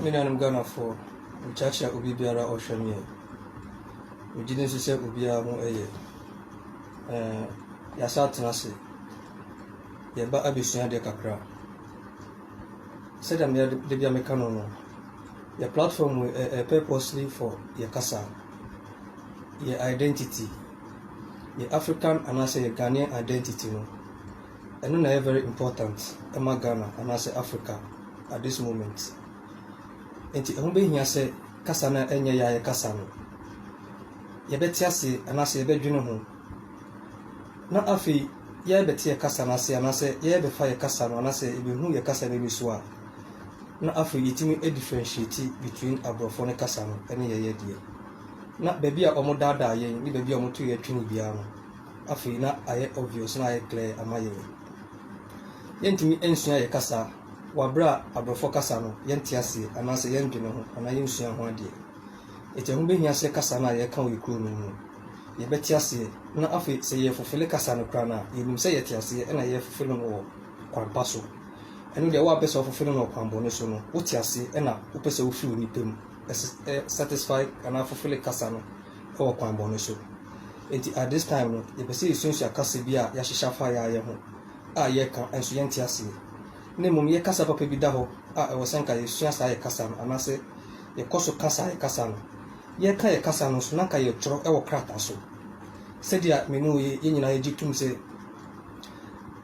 Me nuanom Ghanafoɔ, mekyakyia obi biara a ɔhwɛ me. Megye di nso sɛ obiara ho yɛ. Ɛɛ yɛasa atena ase. Yɛba abɛsua adeɛ kakra. Sɛdeɛ mea da bi a meka no no, yɛ platform yi ɛyɛ purposely for yɛ kasa, yɛ identity. Yɛ African anaasɛ yɛ Ghanaian identity no, ɛno na ɛyɛ very important ma Ghana anaasɛ Africa at this moment. Nti ɛho bɛhia sɛ kasa no a ɛnyɛ yɛ a yɛkasa no, yɛbɛte ase anaasɛ yɛbɛdwene ho, na afei yɛbɛte yɛ kasa no ase anaasɛ yɛbɛfa yɛ kasa no anaasɛ yɛbɛhu yɛ kasa no ani so a, na afei yɛtumi differentiate between aborɔfoɔ no kasa no ne yɛyɛ deɛ. Na baabi a wɔdaadaa yɛn ne baabi a wɔtow yɛn twene biara no, afei na ayɛ obvious, na ayɛ clear ama yɛn. Yɛntumi nsua yɛn kasa wɔ bere a aborɔfo kasa no yɛnte ase anaasɛ yɛndwene ho anaa yensua ho adeɛ. Enti ɛho behia sɛ kasa no a yɛka wɔ yɛn kurow no mu no, yɛbɛte aseɛ, na afei sɛ yɛrefofele kasa no koraa no a, yenim sɛ yɛte aseɛ na yɛrefofele no wɔ kwan pa so. Ɛno deɛ, woampɛ sɛ wofofele no wɔ kwan bɔne so no, wote ase na wopɛ sɛ wufi onipa mu. satisfy anaa fulfill kasa no wɔ kwan bɔne so. Enti at this time no, yɛpɛ sɛ yɛsuasua kasa bi a yɛahyehyɛ afa yɛn ayɛ ho a yɛka nso yɛnte aseɛ. Na mmom yɛ kasa papa bi da hɔ a ɛwɔ sɛ nka yɛsua saa yɛ kasa no anaasɛ yɛkɔ so ka saa yɛ kasa no. Yɛka yɛ kasa no nso na nka yɛtwerɛ wɔ krataa so. Sɛdeɛ me ne wo yɛ nyinaa yɛgye tom sɛ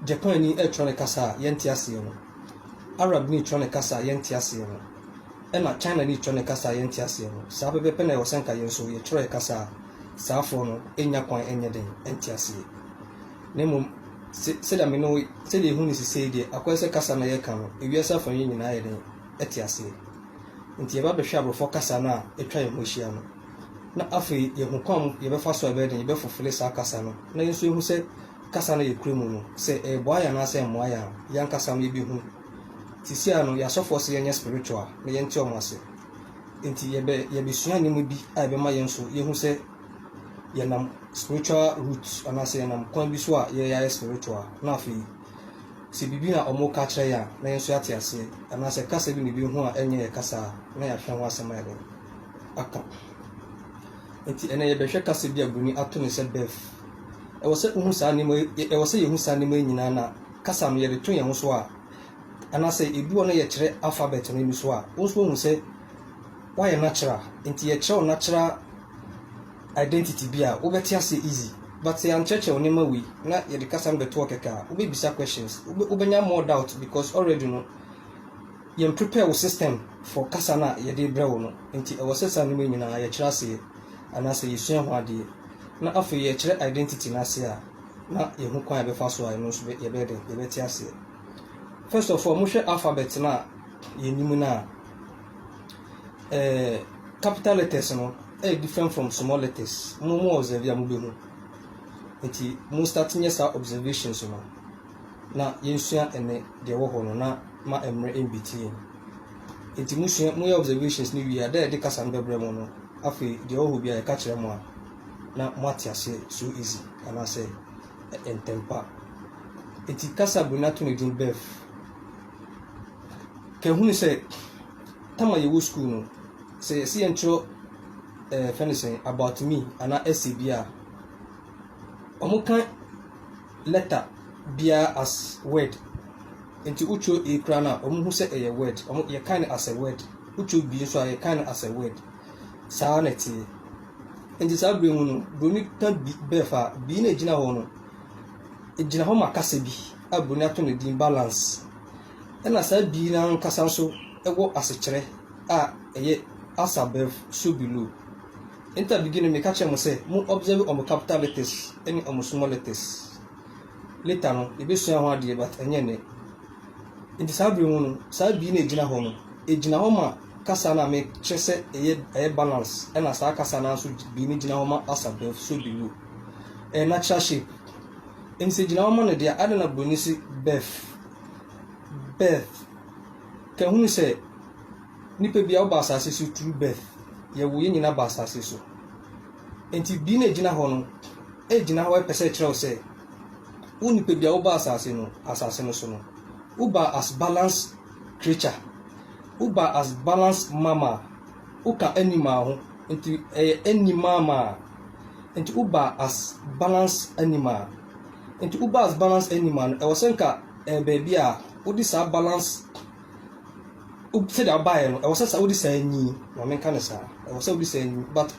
Japanni retwerɛ ne kasa a yɛnte aseɛ no, Arabni kyerɛ ne kasa a yɛnte aseɛ no, ɛna Chinani kyerɛ ne kasa a yɛnte aseɛ no, saa pɛpɛɛpɛ na ɛwɔ sɛ anka yɛn nso yɛkyerɛ yɛn kasa a saafoɔ no nnya kwan nyɛ dɛn nte aseɛ. Na mmom, se, sɛdeɛ me ne wo, sɛdeɛ yɛhu no sesei deɛ, akɔyɛ sɛ kasa no a yɛka no, ewiase afa yi nyinaa yɛ dɛn? Ɛte aseɛ. Nti yɛba bɛhwɛ aborɔfoɔ kasa no a atwa yɛn ho ahyia no, na afei yɛhu kwan mu yɛbɛfa so a yɛbɛyɛ dɛn, yɛbɛfofele saa kasa no, na yɛn nso yɛhu sɛ, kasa no yɛ kura mu no, sɛ ɛboa yɛn anaasɛ ɛmmoa yɛn a, yɛn ankasa no yɛbɛhu. Seesei no, yɛn asɔfoɔ se yɛnyɛ spiritual na yɛnte wɔn ase. Enti yɛbɛ, yɛbɛsua nneɛma bi a ɛbɛma yɛn nso yɛhu sɛ yɛnam spiritual root anaasɛ yɛnam kwan bi so a yɛayɛ spiritual. Na afei, sɛ biribi na wɔreka akyerɛ yɛn a, na yɛn nso yɛate aseɛ, anaasɛ kasa bi na yɛbɛhu a ɛnyɛ yɛn kasa a, na yɛahwɛ ho asɛm ayɛ dɛn aka. Enti ɛnnɛ yɛbɛhwɛ kasa bi a buroni ato no sɛ birth. Ɛwɔ sɛ wohu saa nneɛma yi, ɛwɔ sɛ yɛhu saa nneɛma yi nyinaa na kasa no yɛde to yɛn ho so a, anaasɛ edu hɔ na yɛkyerɛ alphabet no ani so a, wo nso woahu sɛ woayɛ natural. Enti yɛkyerɛ wo natural identity bi a, wobɛte aseɛ easy. But sɛ yɛankyerɛkyerɛ wo nneɛma wei na yɛde kasa no bɛto hɔ kɛkɛ a, wobɛbisa questions, wobɛnya more doubt because already no, Yɛn prepare wo system for kasa no a yɛde brɛ wo no, nti ɛwɔ sɛ saa nnoɔma yi nyinaa yɛkyerɛ aseɛ anaasɛ yɛsua ho adeɛ na afei yɛkyerɛ identity no aseɛ a na yɛhu kwan a yɛbɛfa so a ɛno nso yɛbɛyɛ dɛn yɛbɛte aseɛ. First of all mohwɛ alphabet no a yɛnim no a eh, capital letters no ɛyɛ different from small letters mo mo observe a mobɛhu nti mo start nyɛ saa observations no. na yɛnsua ɛnɛ deɛ ɛwɔ hɔ no na ma mmerɛ mbɛti yɛn. Nti musua, moyɛ observations no wie a, dɛ yɛde kasa no bɛbrɛ mo no, afei deɛ ɛwɔ hɔ biara yɛka kyerɛ mo a, na moate aseɛ so easy anaasɛ ntɛmpa. Nti kasa bere no ato ne din birth. Kɛhunu sɛ, tama yɛwɔ sukuu no, sɛ yɛsi yɛntwerɛ ɛɛ fɛn sɛn about me anaa essay bi a, wɔn ka letter biara as word nti wotwerɛ A koraa no a ɔmo hu sɛ ɛyɛ word ɔmo yɛ kan no as a word wotwerɛ B nso a yɛ kan no as a word saa na ɛteɛ nti saa berɛ mu no broni ka B bɛɛf a B no a ɛgyina hɔ no ɛgyina hɔ ma kasa bi a broni ato no din balance ɛna saa B no ankasa nso ɛwɔ asekyerɛ a ɛyɛ as above so below. Enta beginning me ka kyerɛ mo sɛ mo observe ɔmo capital letters ɛne ɔmo small letters. Later no yɛbɛ sua ho adeɛ but ɛnyɛ nnɛ. Nti saa bere mu no saa B no a ɛgyina hɔ no ɛgyina hɔ ma kasa no a me kyerɛ sɛ ɛyɛ ɛyɛ balance ɛna saa kasa no ara nso B no gyina hɔ ma as above so below. Ɛyɛ natural shape. Nti sɛ ɛgyina hɔ ma no deɛ adɛn na buroni se birth, birth. Ka hunu sɛ. Nnipa biara wɔba asase so through birth. Yɛwo yɛn nyinaa ba asase so. Nti bi na egyina hɔ no, egyina hɔ ɛpɛ sɛ ɛkyerɛ wo sɛ wo nipa biara woba asase no asase no so no woba as balance creature. Woba as balance mama. Woka animal ho nti ɛyɛ animal ma. Nti woba as balance animal. Nti woba as balance animal no ɛwɔ sɛ nka ɛyɛ baabi a wode saa balance wo sɛdeɛ wobaeɛ no ɛwɔ sɛ saa wode saa nyi ma menka no saa ɛwɔ sɛ wode saa nyi but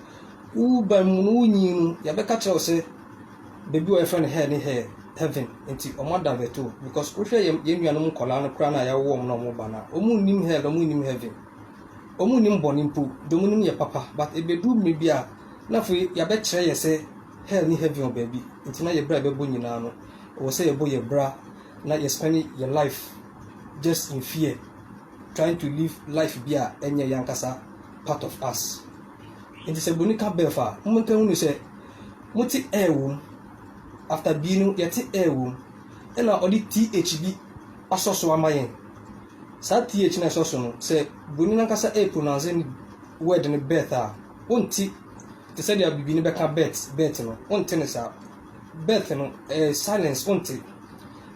woba mu no wonyi no yɛbɛka kyerɛ wo sɛ baabi wɔ yɛfrɛ no hell ne hell heaven nti ɔmo adavɛto because wohwɛ yɛn yɛn nuanom nkɔlaa no koraa no a yɛawo wɔn na ɔmo ba no a ɔmo nnim hell ɔmo nnim heaven ɔmo nnim bɔne mpo de ɔmo nim yɛ papa but ebeduru mmiri bi a na afei yɛabɛkyerɛ yɛ sɛ hell ne heaven wɔ baabi nti na yɛ bra yɛbɛbɔ nyinaa no ɛwɔ sɛ yɛbɔ yɛ bra na yɛspɛne yɛ life just in fear trying to live life bi a ɛnyɛ yɛn ankasa part of us nti sɛ boni ka birth a mo nka hunu sɛ mo te air wom after bi no yɛte air wom ɛna ɔde th bi asɔ so ama yɛn saa th na ɛsɔ so no sɛ boni no ankasa air pronounce ne word no birth a wonte te sɛ deɛ bibini bɛka birth birth no wonte ne saa birth no ɛyɛ silence wonte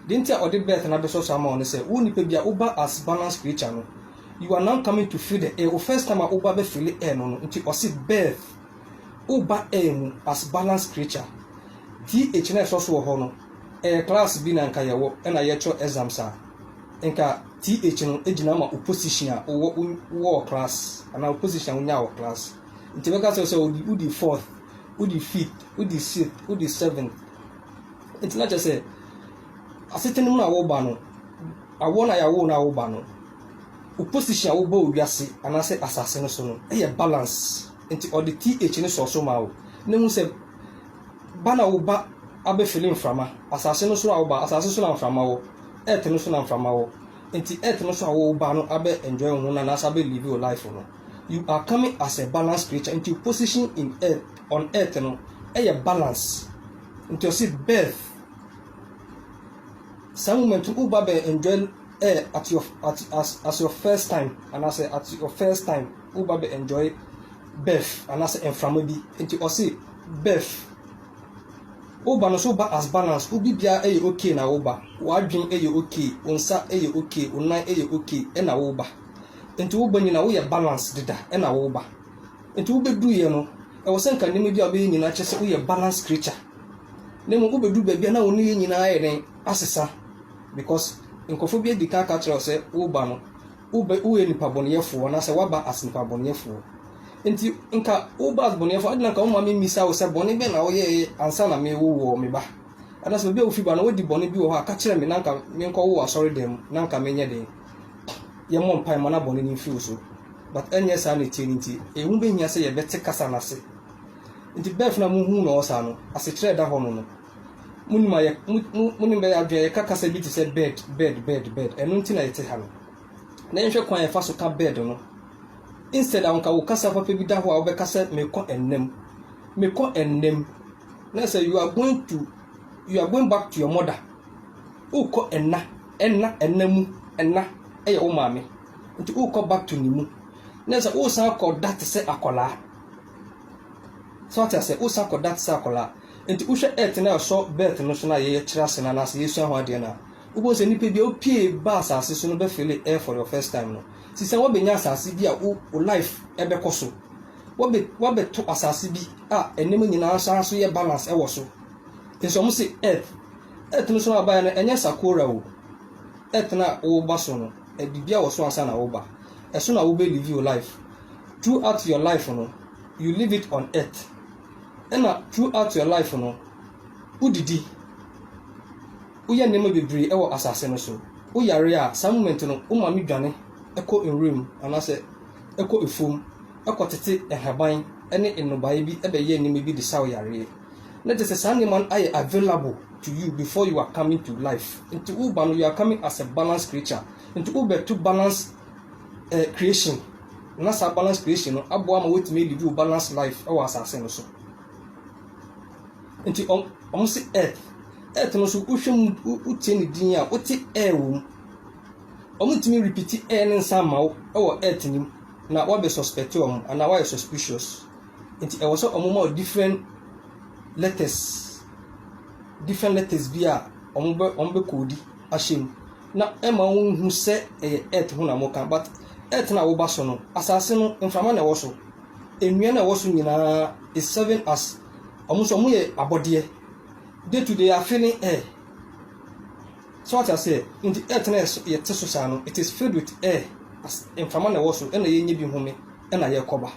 deɛ nti a ɔde birth no abɛsɔ so ama wo no sɛ wo nipa bi a woba as balance creature no you are now coming to feel the air wo first time a woba bɛ feel air no no nti ɔse birth woba air mu as balance creature th na ɛsɔ so wɔ hɔ no ɛyɛ class bi na nka yɛwɔ ɛna yɛkyerɛ exams a nka th no gyina ma wo position a wowɔ wɔ class anaa wo position a wonya wɔ class Nti mɛka kyerɛ wo sɛ wode wodi fourth, wodi fifth, wodi sixth, wodi seventh. Nti na kyerɛ sɛ asetena mu na woba no, awoɔ na yɛawo na woba no, wo position a wobɔ wiase anaasɛ asase no so no yɛ balance. Nti ɔde th no sɔɔ so ma wo na hu sɛ ba na woba abɛfili mframa. Asase no so a woba, asase so na mframa wɔ, earth no so na mframa wɔ. Nti earth no so a woba no abɛ enjoy wo ho no anaasɛ abɛ live wo life no. You are coming as a balanced creature into position in earth on earth no ɛyɛ balance nti ɔsi birth saa moment no woba bɛ enjoy air at your at as as your first time anaasɛ at your first time woba bɛ enjoy birth anaasɛ mframa bi nti ɔsi birth woba no so ba as balance obi biara ɛyɛ okay na woba wadwin ɛyɛ okay wo nsa ɛyɛ okay wo nan ɛyɛ okay ɛna woba. Nti wo banyin a woyɛ balance deda na wo ba nti wo bedu yɛ no ɛwɔ sɛ nka nneɛma bi a wobɛyɛ nyinaa kyerɛ sɛ woyɛ balance creature na mmom wobedu baabi a na wo nneyɛ nyinaa ayɛ dɛn asesa because nkurɔfoɔ bi adi kan aka kyerɛ wo sɛ wo ba no wobɛ woyɛ nipa bɔneyɛfoɔ anaasɛ waba as nipa bɔneyɛfoɔ nti nka wo ba as bɔneyɛfoɔ adi na nka wo maame mmisa wo sɛ bɔne bɛn na woyɛɛ ansa na mewo wɔ me ba anaasɛ baabi a wofi ba no wadi bɔne bi wɔ hɔ a ka kyerɛ me na nka menkɔwo wɔ asɔre dan mu na nka menyɛ den yɛmmɔ mpae mma no bɔne no mfi wo so. But ɛnyɛ saa na ɛteɛ no nti, ɛho bɛhia sɛ yɛbɛte kasa no ase. Nti birth no a mohu no ɔsaa no, asekyerɛ ɛda hɔ no no, monim a yɛ mo mo ne bɛyɛ adwene yɛka kasa bi te sɛ bird bird bird bird ɛno nti na yɛte ha no. Na yɛnhwɛ kwan a yɛfa so ka bird no. Instead a nka wo kasa papa bi da hɔ a wobɛka sɛ mekɔ ɛnnam mekɔ ɛnnam na sɛ you are going to you are going back to your mother wokɔ ɛnna Ɛna ɛna mu ɛna yɛ wo maame nti wokɔ back to ne mu na ɛsɛ wosan kɔ da te sɛ akwadaa so wate aseɛ wosan kɔ da te sɛ akwadaa nti wohwɛ earth na ɛsɔ birth no so na yɛkyerɛ ase no anaasɛ yɛsua ho adeɛ no a wobɛhu sɛ nnipa bi a wopie ba asase so no bɛfele air for your first time no sisa woabɛnya asase bi a wo life ɛbɛkɔ so woabɛto asase bi a nneɛma nyinaa san so yɛ balance ɛwɔ so nso wɔn se earth Earth no so na ɔbaeɛ no, ɛnyɛ Sakura o. Earth no a woba so no, biribiara wɔ so ansa na woba. Ɛso na wobɛ live wo life. Throughout your life no, you live it on earth. Ɛna throughout your life no, wodidi, woyɛ nneɛma bebree wɔ asase no so. Woyare a, saa moment no, wo maame dwane kɔ nwura mu anaasɛ ɛkɔ afuom kɔtete nhaban ne nnɔbaeɛ bi bɛyɛ nneɛma bi de sa wo yareɛ. Na kyerɛ sɛ saa nneɛma no ayɛ available to you before you are coming to life. Nti woba no you are coming as a balanced creature. Nti wobɛto balance eh, creation na saa balance creation no aboa ma woatumi alivi wo balance life wɔ asase no so. Nti wɔn se earth. Earth no so wohwɛ mu wotie ne din a wote air wɔ mu. Wɔn ntumi repeat air ne nsa ama wo wɔ earth nim na wɔabɛ suspect wɔn anaa wɔayɛ suspicious. Nti ɛwɔ sɛ ɔmo ma wo different letters, different letters bi a ɔmo bɛ ɔmo bɛ koodi ahyɛ mu na ɛma wo hu sɛ ɛyɛ earth ho na ɔmo ka but earth na woba so no asaase no mframa na ɛwɔ so nnua na ɛwɔ so nyinaa is serving as ɔmo nso ɔmo yɛ abɔdeɛ day to day afe ne air so ate aseɛ nti earth na yɛte so saa no it is filled with air as mframa na ɛwɔ so ɛna yɛnyɛ bi home. na yɛkɔba.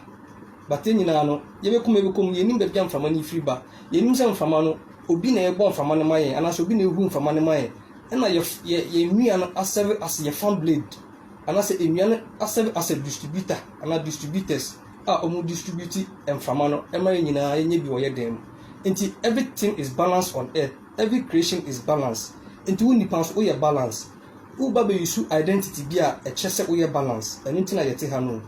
But yɛn nyinaa no, yɛbɛkɔ mu yɛbɛkɔ mu, yɛnnim baabi a mframa no firi ba. Yɛnnim sɛ mframa no, obi na ɛrebɔ mframa no ma yɛn, anaasɛ obi na ɛrehu mframa no ma yɛn. Ɛna yɛ yɛ yɛn nnua no asɛve as yɛ fan blade, anaasɛ nnua no asɛve as a distributor anaa distributors a wɔn distribute mframa no ɛma yɛn nyinaa yɛnyɛ bi wɔ yɛ dan mu. Nti everything is balance on earth, every creation is balance. Nti wo nipa nso woyɛ balance. Wo ba bɛ use identity bi a ɛkyerɛ sɛ woyɛ balance ɛno nti na yɛte ha no o.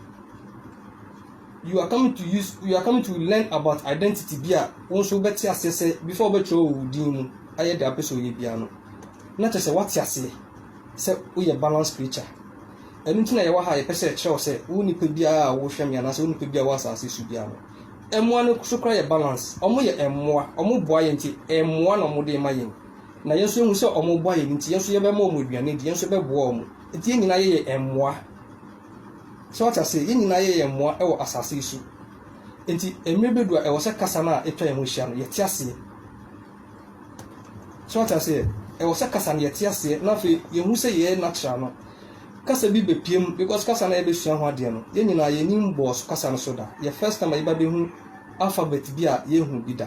You are coming to use you are coming to learn about identity bi a wo nso wobɛte aseɛ sɛ before wobɛtwerɛ wɔ wo din mu ayɛ deɛ wopɛ sɛ ɔyɛ biara no na kyerɛ sɛ woate aseɛ sɛ woyɛ balance creature. Ɛno nti na yɛwɔ ha yɛpɛ sɛ ɛkyerɛ wo sɛ wo nipa biara a wohwɛ me anaasɛ wo nipa biara wɔ asase so biara no mmoa no so kora yɛ balance. Wɔyɛ mmoa, wɔboa yɛn nti mmoa na wɔde ma yɛn. na yɛn nso yɛhu sɛ wɔboa yɛn nti, yɛn nso yɛbɛma wɔn aduane adi, yɛn nso yɛbɛboa wɔn. Nti yɛn nyinaa yɛyɛ mmoa. So wate ase? Yɛn nyinaa yɛyɛ mmoa wɔ asase yi so. Nti mmerɛ bɛdu a ɛwɔ sɛ kasa no a ɛtwa yɛn ho hyia no, yɛte aseɛ. So wate aseɛ? Ɛwɔ sɛ kasa no yɛte aseɛ na afei yɛhu sɛ yɛyɛ natural no. Kasa bi bɛpie mu because kasa no a yɛbɛsua ho adeɛ no, yɛn nyinaa yɛnim bɔɔ so kasa no so da. Yɛ first time a yɛba bɛhu alphabet bi a yɛnhu bi da.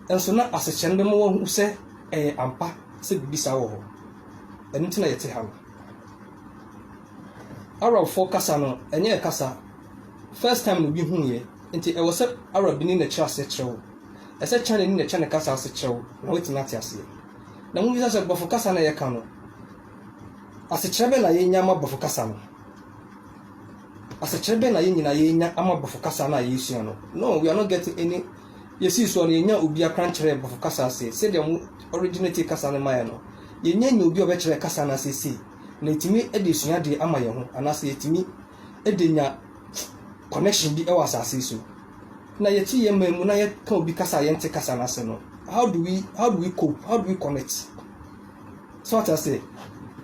Nanso na asekyerɛ no bɛma wɔahu sɛ ɛyɛ ampa sɛ biribi saa wɔ hɔ. Ɛno nti na yɛte ha no. Arabfoɔ kasa no, ɛnyɛ kasa. First time na obi huiɛ, nti ɛwɔ sɛ Arabni na ɛkyerɛ aseɛ kyerɛ wo. Ɛsɛ sɛ Chinani na ɛkyerɛ ne kasa ase kyerɛ wo na woatumi ate aseɛ. Na mobisa sɛ Borɔfo kasa na yɛka no, asekyerɛ bɛn na yɛnya ama Borɔfo kasa no? Asekyerɛ bɛn na yɛn nyinaa yɛnya ama Borɔfo kasa no a yɛresua no? No, we are not getting any yesii soɔ no, yɛnyaa obi akran kyerɛɛ Borɔfo kasa ase, sɛdeɛ wɔn originated kasa no maeɛ no. Yɛnnya nyaa obi a ɔbɛkyerɛɛ kasa no ase sei, na yɛtumi de resua adeɛ ama yɛn ho, anaasɛ yɛtumi de nya connection bi wɔ asase yi so. Na yɛte yɛn man mu na yɛka obi kasa a yɛnte kasa no ase no, how do we, how do we cope, how do we connect? So ate ase?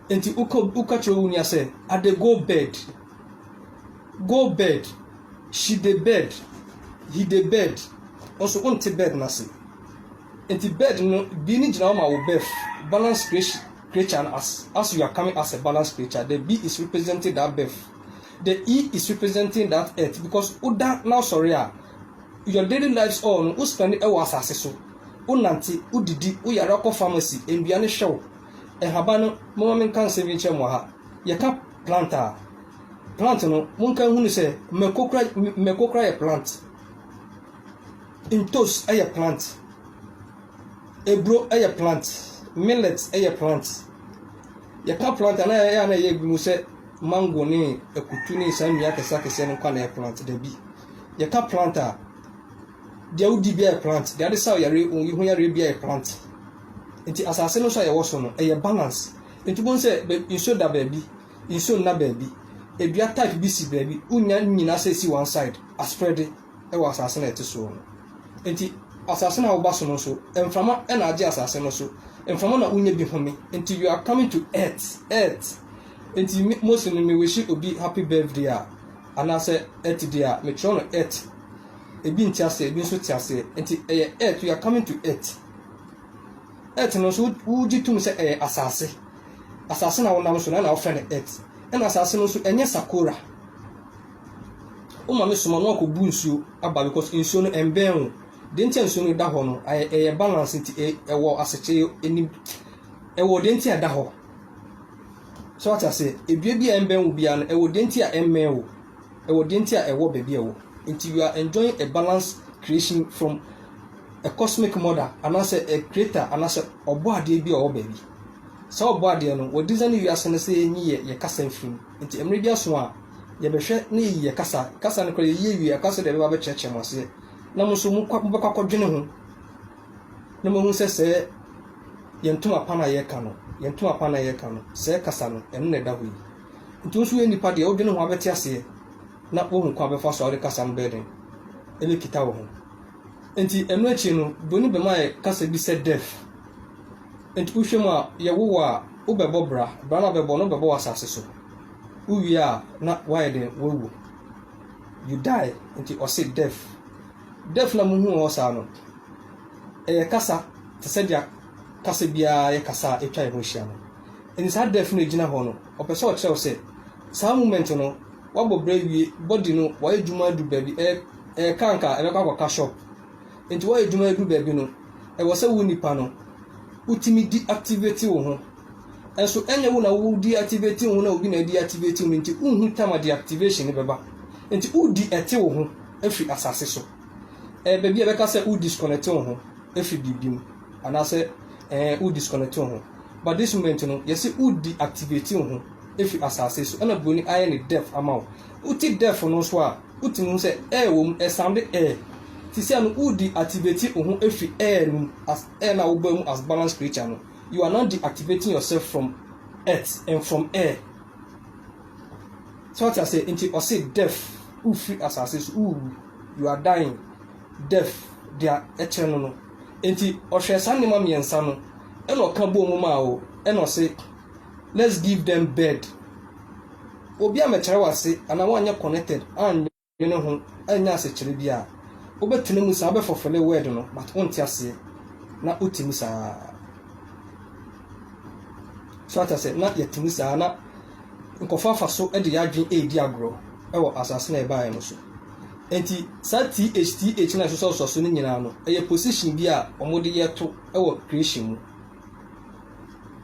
Enti woka, woka kyerɛ wo nua sɛ, I dey go bed. Go bed, She dey bed, He dey bed, Wo nso wonte bed no ase. Enti bed no, bi no gyina hɔ ma wo birth, balanced creation, creature no as, as you are coming as a balanced creature, the B is representing that birth. The E is representing that earth because woda na wosɔre a, your daily lives all no, wo spend wɔ asase so. Wonante, wodidi, woyare akɔ pharmacy, nnua no hwɛ wo. Nhaban no, momma menka nsɛm bi nkyerɛ mo wɔ ha. Yɛka plant a, plant no monka nhunu sɛ mmako kora mmako kora yɛ plant, ntos yɛ plant, eburo yɛ plant, millet yɛ plant. Yɛka plant a na ɛyɛ a na ɛyɛ bi mu sɛ mango ne akutu ne saa nnua akɛse akɛseɛ no nkwa na ɛyɛ plant dabi. Yɛka plant a deɛ wodi bi yɛ plant, deɛ ade saw yare yi ho yareɛ bi yɛ plant. Nti asase no nso a yɛwɔ so no ɛyɛ balance. Nti bohu sɛ nsuo da baabi, nsuo nna baabi, edua type bi si baabi, wonya ne nyinaa sɛ esi one side, asprɛde wɔ asase no a ɛte soɔ no. Nti asase no a woba so no nso, mframa na agye asase no so, mframa na wonya bi home, nti you are coming to earth, earth. Nti me Mose no me wishi obi happy birthday a, anaasɛ earth day a, me twerɛ no earth. Ebi nte aseɛ, ebi nso te aseɛ, nti ɛyɛ earth, you are coming to earth. Earth no nso, wogye tom sɛ ɛyɛ asase. Asase na wonam so no, ɛna wɔfrɛ no earth. Ɛna asase no nso, ɛnyɛ sakora. Wo maame soma na wakɔbu nsuo aba because nsuo no ɛmbɛn wo. Deɛ nti a nsuo no da hɔ no, ayɛ ɛyɛ balance nti, ɛwɔ asekyerɛ anim. Ɛwɔ deɛ nti a ɛda hɔ. So wate aseɛ? Edua bi a ɛmbɛn wo biara no, ɛwɔ deɛ nti a ɛmmɛn wo. Ɛwɔ deɛ nti a ɛwɔ baabi a ɛwɔ. Nti you are enjoying a balanced creation from a cosmic mother anaasɛ a creator anaasɛ ɔbɔadeɛ bi a ɔwɔ baabi. Saa ɔbɔadeɛ no, wɔdesign wiase no sɛ yɛnyi yɛ yɛ kasa mfiri mu. Nti mmerɛ bi aso a, yɛbɛhwɛ na yɛyi yɛ kasa. Kasa no koraa yɛyi awie a, ɛkɔa sɛ deɛ ɛbɛba abɛkyerɛkyerɛ mo aseɛ. Na mo nso mokɔ mobɛkɔ akɔdwene ho na moahu sɛ sɛɛ yɛn ntoma pa no a yɛreka no, yɛn ntoma pa no a yɛreka no, sɛɛ kasa no, ɛno na ɛda hɔ yi. Nti wo nso woyɛ nipa deɛ, wodwene ho a wobɛte aseɛ na woahu kwan a wobɛfa so a wode kasa no bɛyɛ dɛn? Ɛbɛkita wo ho. Enti ɛno akyi no, Broni bɛma yɛ kasa bi sɛ Deaf. Enti wohwɛ mu a, yɛwo wo a, wobɛbɔ bra. Bra no a wobɛbɔ no, wobɛbɔ wɔ asase so. Wowie a, na woayɛ dɛn? Woawu. You die. Enti ɔse Deaf. Deaf no a muhu wɔ hɔ saa no, ɛyɛ kasa te sɛ deɛ kasa biara yɛ kasa a atwa yɛn ho ahyia no. Enti saa Deaf no a ɛgyina hɔ no, ɔpɛ sɛ ɔkyerɛ wo sɛ saa moment no, woabɔ bra awie, body no wayɛ adwuma adu baabi, ɛyɛ Ɛka nka ɛbɛkɔ akɔka shop. Nti wayɛ adwuma ɛdu baabi no ɛwɔ sɛ wo nipa no wotumi di activate wo ho nso ɛnyɛ wo na wo di activate wo ho na obi na di activate wo nti wonhu time a deactivation no bɛba nti wodi ɛte wo ho ɛfiri asase so ɛɛ baabi a ɛbɛka sɛ wo disconnect wo ho ɛfiri biribi mu anaasɛ ɛɛ wo disconnect wo ho but this moment no yɛsi wodi activate wo ho ɛfiri asase so ɛna buroni ayɛ ne deaf ama wo wote deaf no nso a Wotumi hu sɛ ɛɛ wɔ mu, ɛsande ɛɛ. Te sɛ no woredi activate wo ho afiri ɛɛ no mu as ɛɛ no a wobɔ mu as balanced creature no. You are now deactivating yourself from earth and from air. So wate aseɛ? Nti ɔse death, wofiri asase so, wowu. You are dying. Death, deɛ ɛkyerɛ no no. Nti ɔhwɛɛ saa nneɛma mmiɛnsa no ɛna ɔka bɔɔ mu maa wo ɛna ɔse, let's give them bed obi a mɛkyerɛ wase anaa wanyɛ connected anwene ho anya asekyerɛ bi a wobɛtena mu saa wobɛfɔfele word no but wonte aseɛ na wote mu saa so ata sɛ na yɛte mu saa na nkɔfo afa so de yɛ adwene ɛredi agorɔ ɛwɔ asase na ɛbaeɛ no so nti saa thth na ɛsosɔsosɔ so no nyinaa no ɛyɛ position bi a wɔde yɛto ɛwɔ creation mu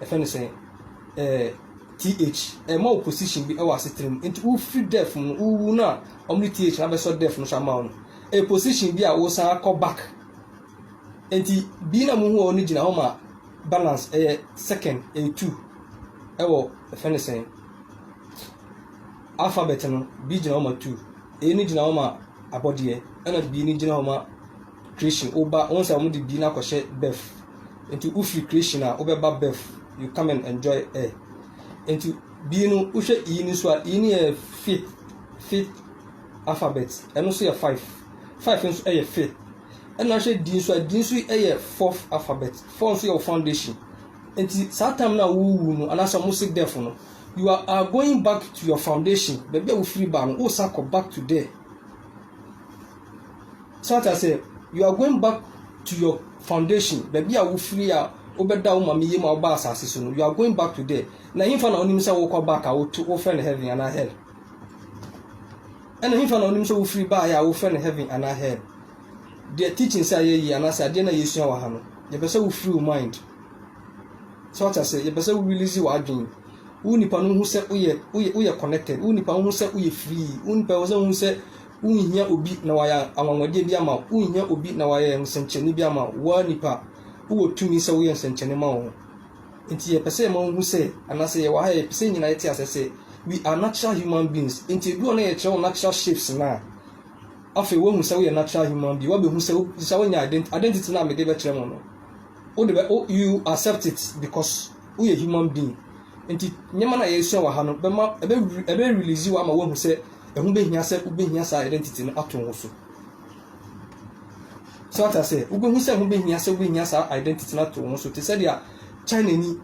yɛfrɛ no sɛn, ɛɛ TH, ɛma wo position bi wɔ asetena mu. Nti wofiri death mu no, wowu no a, wɔde TH no abɛsɔ death no so ama wo no, ɛyɛ position bi a wosan akɔ back. Nti B na muhu wɔ no gyina hɔ ma balance, ɛyɛ second, ɛyɛ two, ɛwɔ yɛfrɛ no sɛn, alphabet no, B gyina hɔ ma two, A no gyina hɔ ma abɔdeɛ, ɛna B no gyina hɔ ma Creation woba wohu sɛ wɔde bi no akɔhyɛ bɛf nti wofiri creation a wobɛba bɛf you come and enjoy air nti bi no wohwɛ e no so a e no yɛ fi fi alphabet ɛno nso yɛ five five nso yɛ fi ɛna wohwɛ di nso a di nso yɛ fourth alphabet four nso yɛ foundation nti saa time no a wowu no anaasɛ wɔn si death no you are, are going back to your foundation baabi a wofiri ba no wosan kɔ back to there. So ate aseɛ? You are going back to your foundation, baabi a wofiri a wobɛda wo maame yam a wobaa asase so no. You are going back to there. Na hemfa na onim sɛ wokɔ back a woto wofrɛ no heaven anaa hell? Ɛna hemfa na onim sɛ wofiri baeɛ a wofrɛ no heaven anaa hell? Deɛ teachings a yɛyi anaasɛ adeɛ no a yɛsua wɔ ha no, yɛpɛ sɛ wofiri wo mind. So ate aseɛ? Yɛpɛ sɛ wo release w'adwene. Wo nipa no ho sɛ woyɛ woyɛ woyɛ connected. Wo nipa ho sɛ woyɛ free. Wo nipa ho sɛ wohu sɛ Wonhia obi na wayɛ anwanwadeɛ bi ama wo. Wonhia obi na wayɛ nsɛnkyerɛnne bi ama wo. Woaa nipa, wowɔ tumi sɛ woyɛ nsɛnkyerɛnne ma wɔn. Nti yɛpɛ sɛ yɛma wohu sɛ, anaasɛ yɛwɔ ha a yɛpɛ sɛ yɛn nyinaa yɛte aseɛ sɛ, we are natural human beings. Nti ɛduru hɔ na yɛkyerɛ wo natural shapes no a, afei woahu sɛ woyɛ natural human being. Woabɛhu sɛ, wo sɛ woanya ident, identity no a mede bɛkyerɛ mo no, wode bɛ, wo, you accept it because woyɛ human being. Nti nneɛma no a yɛresua wɔ ha no bɛma, ɛbɛ, ɛbɛ release wo ama woahu sɛ ɛho bɛhia sɛ wobɛhia saa identity no ato wo so so ata sɛ wobɛhu sɛ ɛho bɛhia sɛ wobɛhia saa identity no ato wo so te sɛdeɛ china ni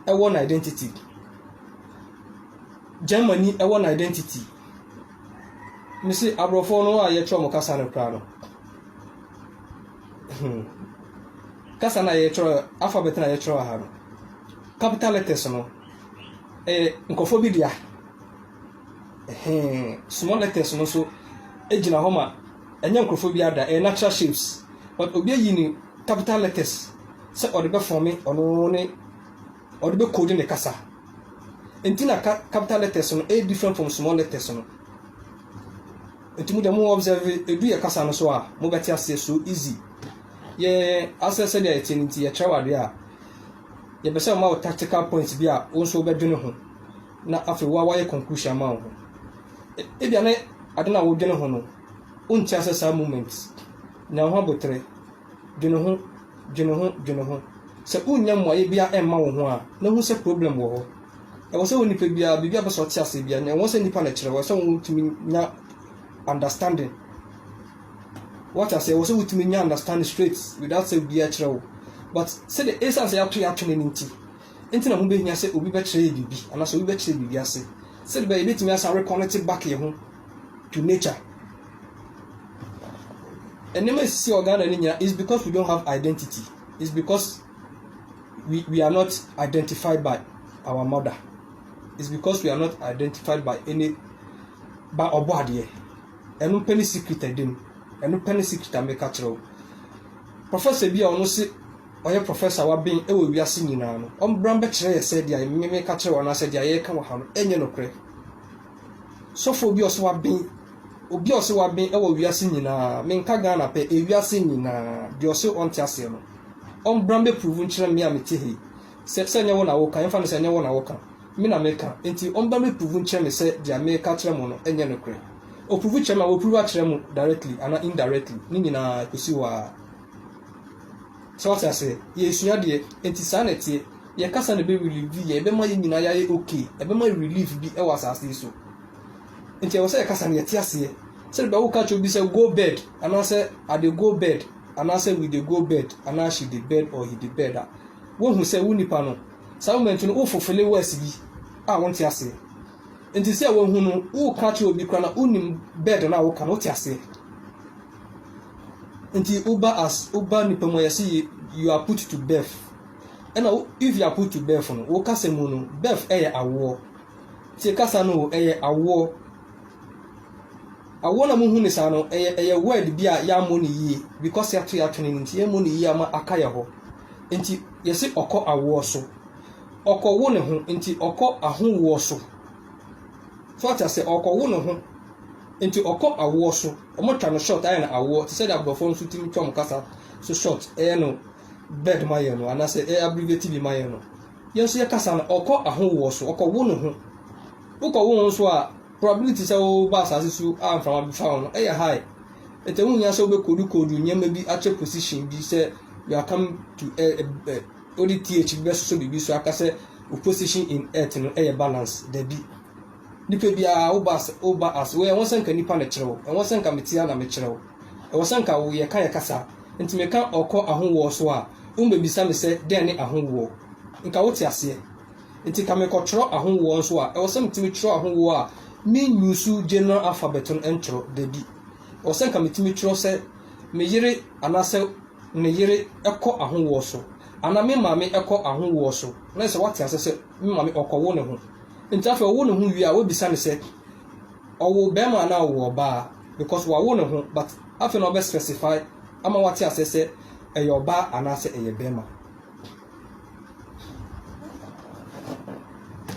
ɛwɔ no identity germany ɛwɔ no identity me se aborɔfoɔ no a yɛkyerɛ mo kasa no koraa no hmm. kasa no a yɛkyerɛ alphabet no a yɛkyerɛ wɔ ha no capital letters no ɛyɛ eh, nkɔfoɔ bi dea Ɛhee, small letters no nso gyina hɔ ma ɛnyɛ nkorɔfoɔ biara da, ɛyɛ natural shapes but obi ayi no capital letters sɛ ɔde bɛ forme ɔno ne ɔde bɛ code ne kasa nti na ka capital letters no ɛyɛ different from small letters no nti mo deɛ mo observe ɛdu yɛ kasa no so a mo bɛte aseɛ so easy yɛ asɛ sɛ deɛ yɛte no nti yɛkyerɛ wɔ adeɛ a yɛpɛ sɛ ɔma wo tactical points bi a wo nso wobɛdwene ho na afei wo ara woayɛ conclusion ama wo ho. Ebia ne ade no a wodwene ho no, wonte ase saa moment. Nya wo ho aboterɛ. Dwene ho, dwene ho, dwene ho. Sɛ wonnya mmuaeɛ biara mma wo ho a, na hu sɛ problem wɔ hɔ. Ɛwɔ sɛ wo nipa biara, biribi a wopɛ sɛ ɔte aseɛ biara, ɛwɔ sɛ nipa na ɛkyerɛ wo, ɛwɔ sɛ wotumi nya understanding. Woate aseɛ, ɛwɔ sɛ wotumi nya understanding straight without sɛ obiara kyerɛ wo. But sɛdeɛ, ɛsiane sɛ yɛato yɛatwene no nti, Enti na ɛho behia sɛ obi bɛkyerɛ yɛn biribi anaasɛ obi bɛkyerɛ biribi ase sɛdeɛ ɛbɛyɛ yɛbɛtumi asan reconnect back yɛn ho to nature. Nneɛma a ɛsisi wɔ Ghana no nyinaa is because we don't have identity. It's because we, we are not identified by our mother. It's because we are not identified by any by ɔbɔ adeɛ. Ɛno pɛ ne secret ɛdim. Ɛno pɛ ne secret a meka kyerɛ wo. Professor bi a ɔno se ɔyɛ professor a waben wɔ wiase nyinaa no, ɔmbra mbɛkyerɛ yɛ sɛ deɛ me meka kyerɛ wo anaasɛ deɛ yɛreka wɔ ha no ɛnyɛ nokorɛ. Sɔfoɔ bi a ɔse waben, obi a ɔse waben wɔ wiase nyinaa, menka Ghana pɛ, ewiase nyinaa, deɛ ɔse ɔnte aseɛ no, ɔmbra mbɛpuruvu nkyerɛ me a mete ha yi, sɛ sɛ ɛnyɛ wo na woka, yɛmfa no sɛ ɛnyɛ wo na woka, me na meka, enti ɔmbra mbɛpuruvu nkyerɛ me sɛ deɛ meka kyerɛ mo no ɛnyɛ nokorɛ. Ɔpuruvu kyerɛ me a, wapuruvu akyerɛ mo directly anaa indirectly, ne nyinaa, ɛkɔsi hɔ ara. So wate aseɛ? Yɛresua adeɛ, enti saa na ɛteɛ. Yɛn kasa na ɛbɛrelieve yɛn, ɛbɛma yɛn nyinaa yɛayɛ ok, ɛbɛma relief bi wɔ asase yi so. Nti ɛwɔ sɛ yɛkasa na yɛte aseɛ. Sɛdeɛ bɛa woka kyerɛ obi sɛ go bed, anaasɛ I dey go bed, anaasɛ we dey go bed, anaa she dey bed or he dey bed a, woahu sɛ wo nipa no, saa moment no wo fulfille words bi a wonte aseɛ. Nti sɛ woahu no, woka kyerɛ obi koraa na wonim bed no a woka no, wote aseɛ? nti woba as woba nipa mu a yɛsi you you are put to birth ɛna wo if you are put to birth no wo kasa mu no birth ɛyɛ awoɔ tie kasa no o ɛyɛ awoɔ awoɔ na mo hu ne saa no ɛyɛ ɛyɛ word bi a yɛamɔ ne yie because yɛato yɛato ne nti yɛmɔ ne yie ama aka yɛ hɔ nti yɛsi ɔkɔ awoɔ so ɔkɔ wo ne ho nti ɔkɔ ahowoɔ so so ata sɛ ɔkɔ wo ne ho nti ɔkɔ awoɔ so. Ɔmo twa no short ayɛ no awoɔ te sɛ deɛ abrɔfoɔ nso tumi twa ɔmo kasa so short yɛ no bird ma yɛn no anaa sɛ yɛ abbreviate bi ma yɛn no yɛn nso yɛ kasa no ɔkɔ ahowoɔ so ɔkɔ wo ne ho wokɔ wo ho so a probability sɛ woba asase so a mframa bi fa wo no ɛyɛ high ɛtɛ ho nyia sɛ wobɛkodu kodu nneɛma bi akyɛ position bi sɛ you are come to eh, eh, wode th bi bɛsoso biribi so aka sɛ wo position in earth no ɛyɛ balance dabi Nipa biara, wo ba ase, wo ba ase, wo, ɛwɔ sɛ nka nipa na kyerɛ wo, ɛwɔ sɛ nka me tia na me kyerɛ wo, ɛwɔ sɛ nka wo, yɛka yɛ kasa, nti me ka ɔkɔ ahowoɔ so a, wo bɛ bisa me sɛ dɛn ne ahowoɔ, nka wo te aseɛ, nti nka me kɔ twerɛ ahowoɔ nso a, ɛwɔ sɛ me tumi twerɛ ahowoɔ a, me use general alphabet no ntwerɛ, dabi, ɛwɔ sɛ nka me tumi twerɛ sɛ me yere anaa sɛ ne yere ɛkɔ ahowoɔ so, anaa me maame ɛkɔ ahowoɔ so, na ɛsɛ sɛ wate aseɛ sɛ me maame ɔkɔ wo ne ho. Enti afei ɔwo ne ho wie a wobisa no sɛ ɔwo bɛrima anaa ɔwo ɔbaa because wawo ne ho but afei na ɔbɛ specify ama wate asɛ sɛ ɛyɛ ɔbaa anaa sɛ ɛyɛ bɛrima.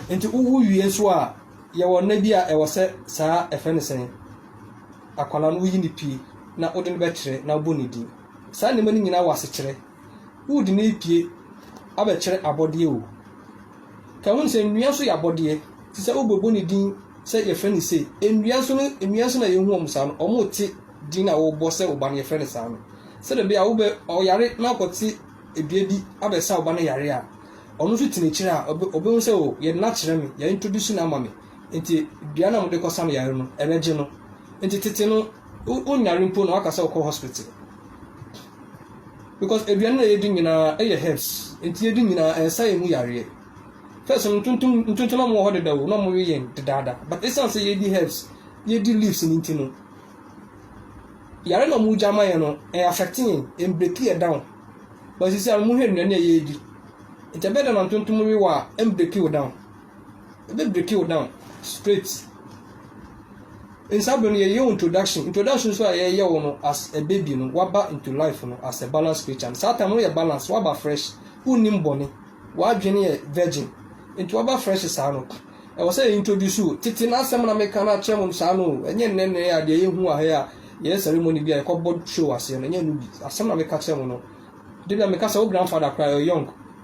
Enti wowo wie nso a yɛwɔ nna bi a ɛwɔ sɛ saa ɛfɛ ne sɛn akwala no woyi ne pie na wode no bɛkyerɛ na wobɔ ne din. Saa nneɛma no nyinaa wɔ asekyerɛ. Wood no repue abɛkyerɛ abɔdeɛ o. Ka hu sɛ nnua nso yɛ abɔdeɛ te sɛ wobɛbɔ ne din sɛ yɛfrɛ no sei. Nnua nso no nnua nso na yɛhu wɔn saa no. Wɔrete din a wobɔ sɛ wo ba no yɛfrɛ no saa no. Sɛdeɛ ɛbɛyɛ a wobɛ ɔyare na akɔte dua bi abɛsa wo ba no yare a, ɔno nso tena akyire a ɔbɛhu sɛ o yɛde no akyerɛ me, yɛ introduce no ama me. Nti dua no a mode kɔsa no yare no ɛbɛgye no. Nti tete no wonyare mpo na waka sɛ wokɔ hospital. Because aduane na yɛdi nyinaa ɛyɛ herbs. Nti yɛdi nyinaa ɛnsa yɛn mu yareɛ. First no ntontom ntontom na wɔwɔ hɔ deda o na wɔwe yɛn dedaada. But ɛsiane sɛ yɛdi herbs, yɛdi leaves no nti no, yare na wɔgya ama yɛn no, ɛyɛ affect yɛn, ɛmbreki yɛ down. But sisi a mohwɛ nnuane a yɛdi. Nti ɛbɛyɛ dɛ na ntontom we wɔ a, ɛmbreki wo down. Ebe break you down straight. Nsa bɛ no yɛyɛ introduction. Introduction nso a yɛyɛ wo no as a baby no waba into life no as a balance creature. Saa time no yɛ balance waba fresh. Wonnim bɔne. W'adwene yɛ virgin. Nti waba fresh saa no. Ɛwɔ sɛ yɛ introduce wo. Tete n'asɛm na meka no akyerɛ mo saa no. Ɛnyɛ nnɛ nnɛ a deɛ yɛhu wɔ ha a yɛyɛ ceremony bi a yɛkɔbɔ show aseɛ no. Ɛnyɛ no bi. Asɛm na meka kyerɛ mo no. Debia meka sɛ wo grandfather koraa yɛ young.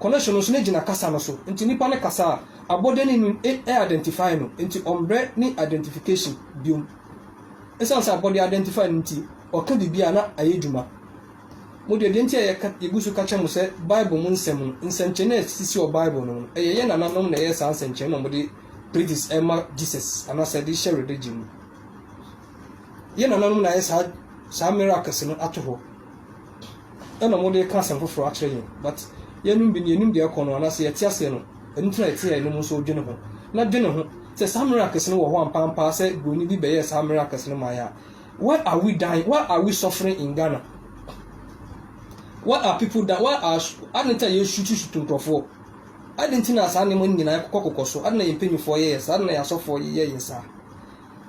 Connection no nso no gyina kasa no so nti nipa no kasa a abɔdani no e identify no nti ɔmbrɛ ne identification biom. Esiane sɛ abɔde identify no nti ɔka biribi a na ayɛ dwuma. Mo deɛ deɛ nti a yɛka yɛgu so ka kyerɛ mo sɛ bible mu nsɛm no nsɛnkyerɛnne a ɛsisi wɔ bible no mu no ɛyɛ yɛn nananom na ɛyɛɛ saa nsɛnkyerɛnne na wɔde praises ɛma Jesus anaasɛ de hyɛ religion mu. Yɛn nananom na ayɛ saa saa miracles no ato hɔ. Ɛna ɔmo de ka asɛm foforɔ akyerɛ yɛn but yɛnom bi no yɛnim deɛ ɛkɔ no anaa sɛ yɛte aseɛ no ɛno nti na yɛte a yɛnom nso dwene ho na dwene ho sɛ saa miracles no wɔ hɔ ampampaa sɛ broni bi bɛyɛɛ saa miracles no mae a why are we dying why are we suffering in Ghana why are people dying why are adɛn nti a yɛsutu sutu nkurɔfoɔ adɛn nti na saa nneɛma no nyinaa kɔkɔ so adɛn na yɛn mpanimfoɔ yɛyɛ saa adɛn na yɛn asɔfoɔ yɛyɛ saa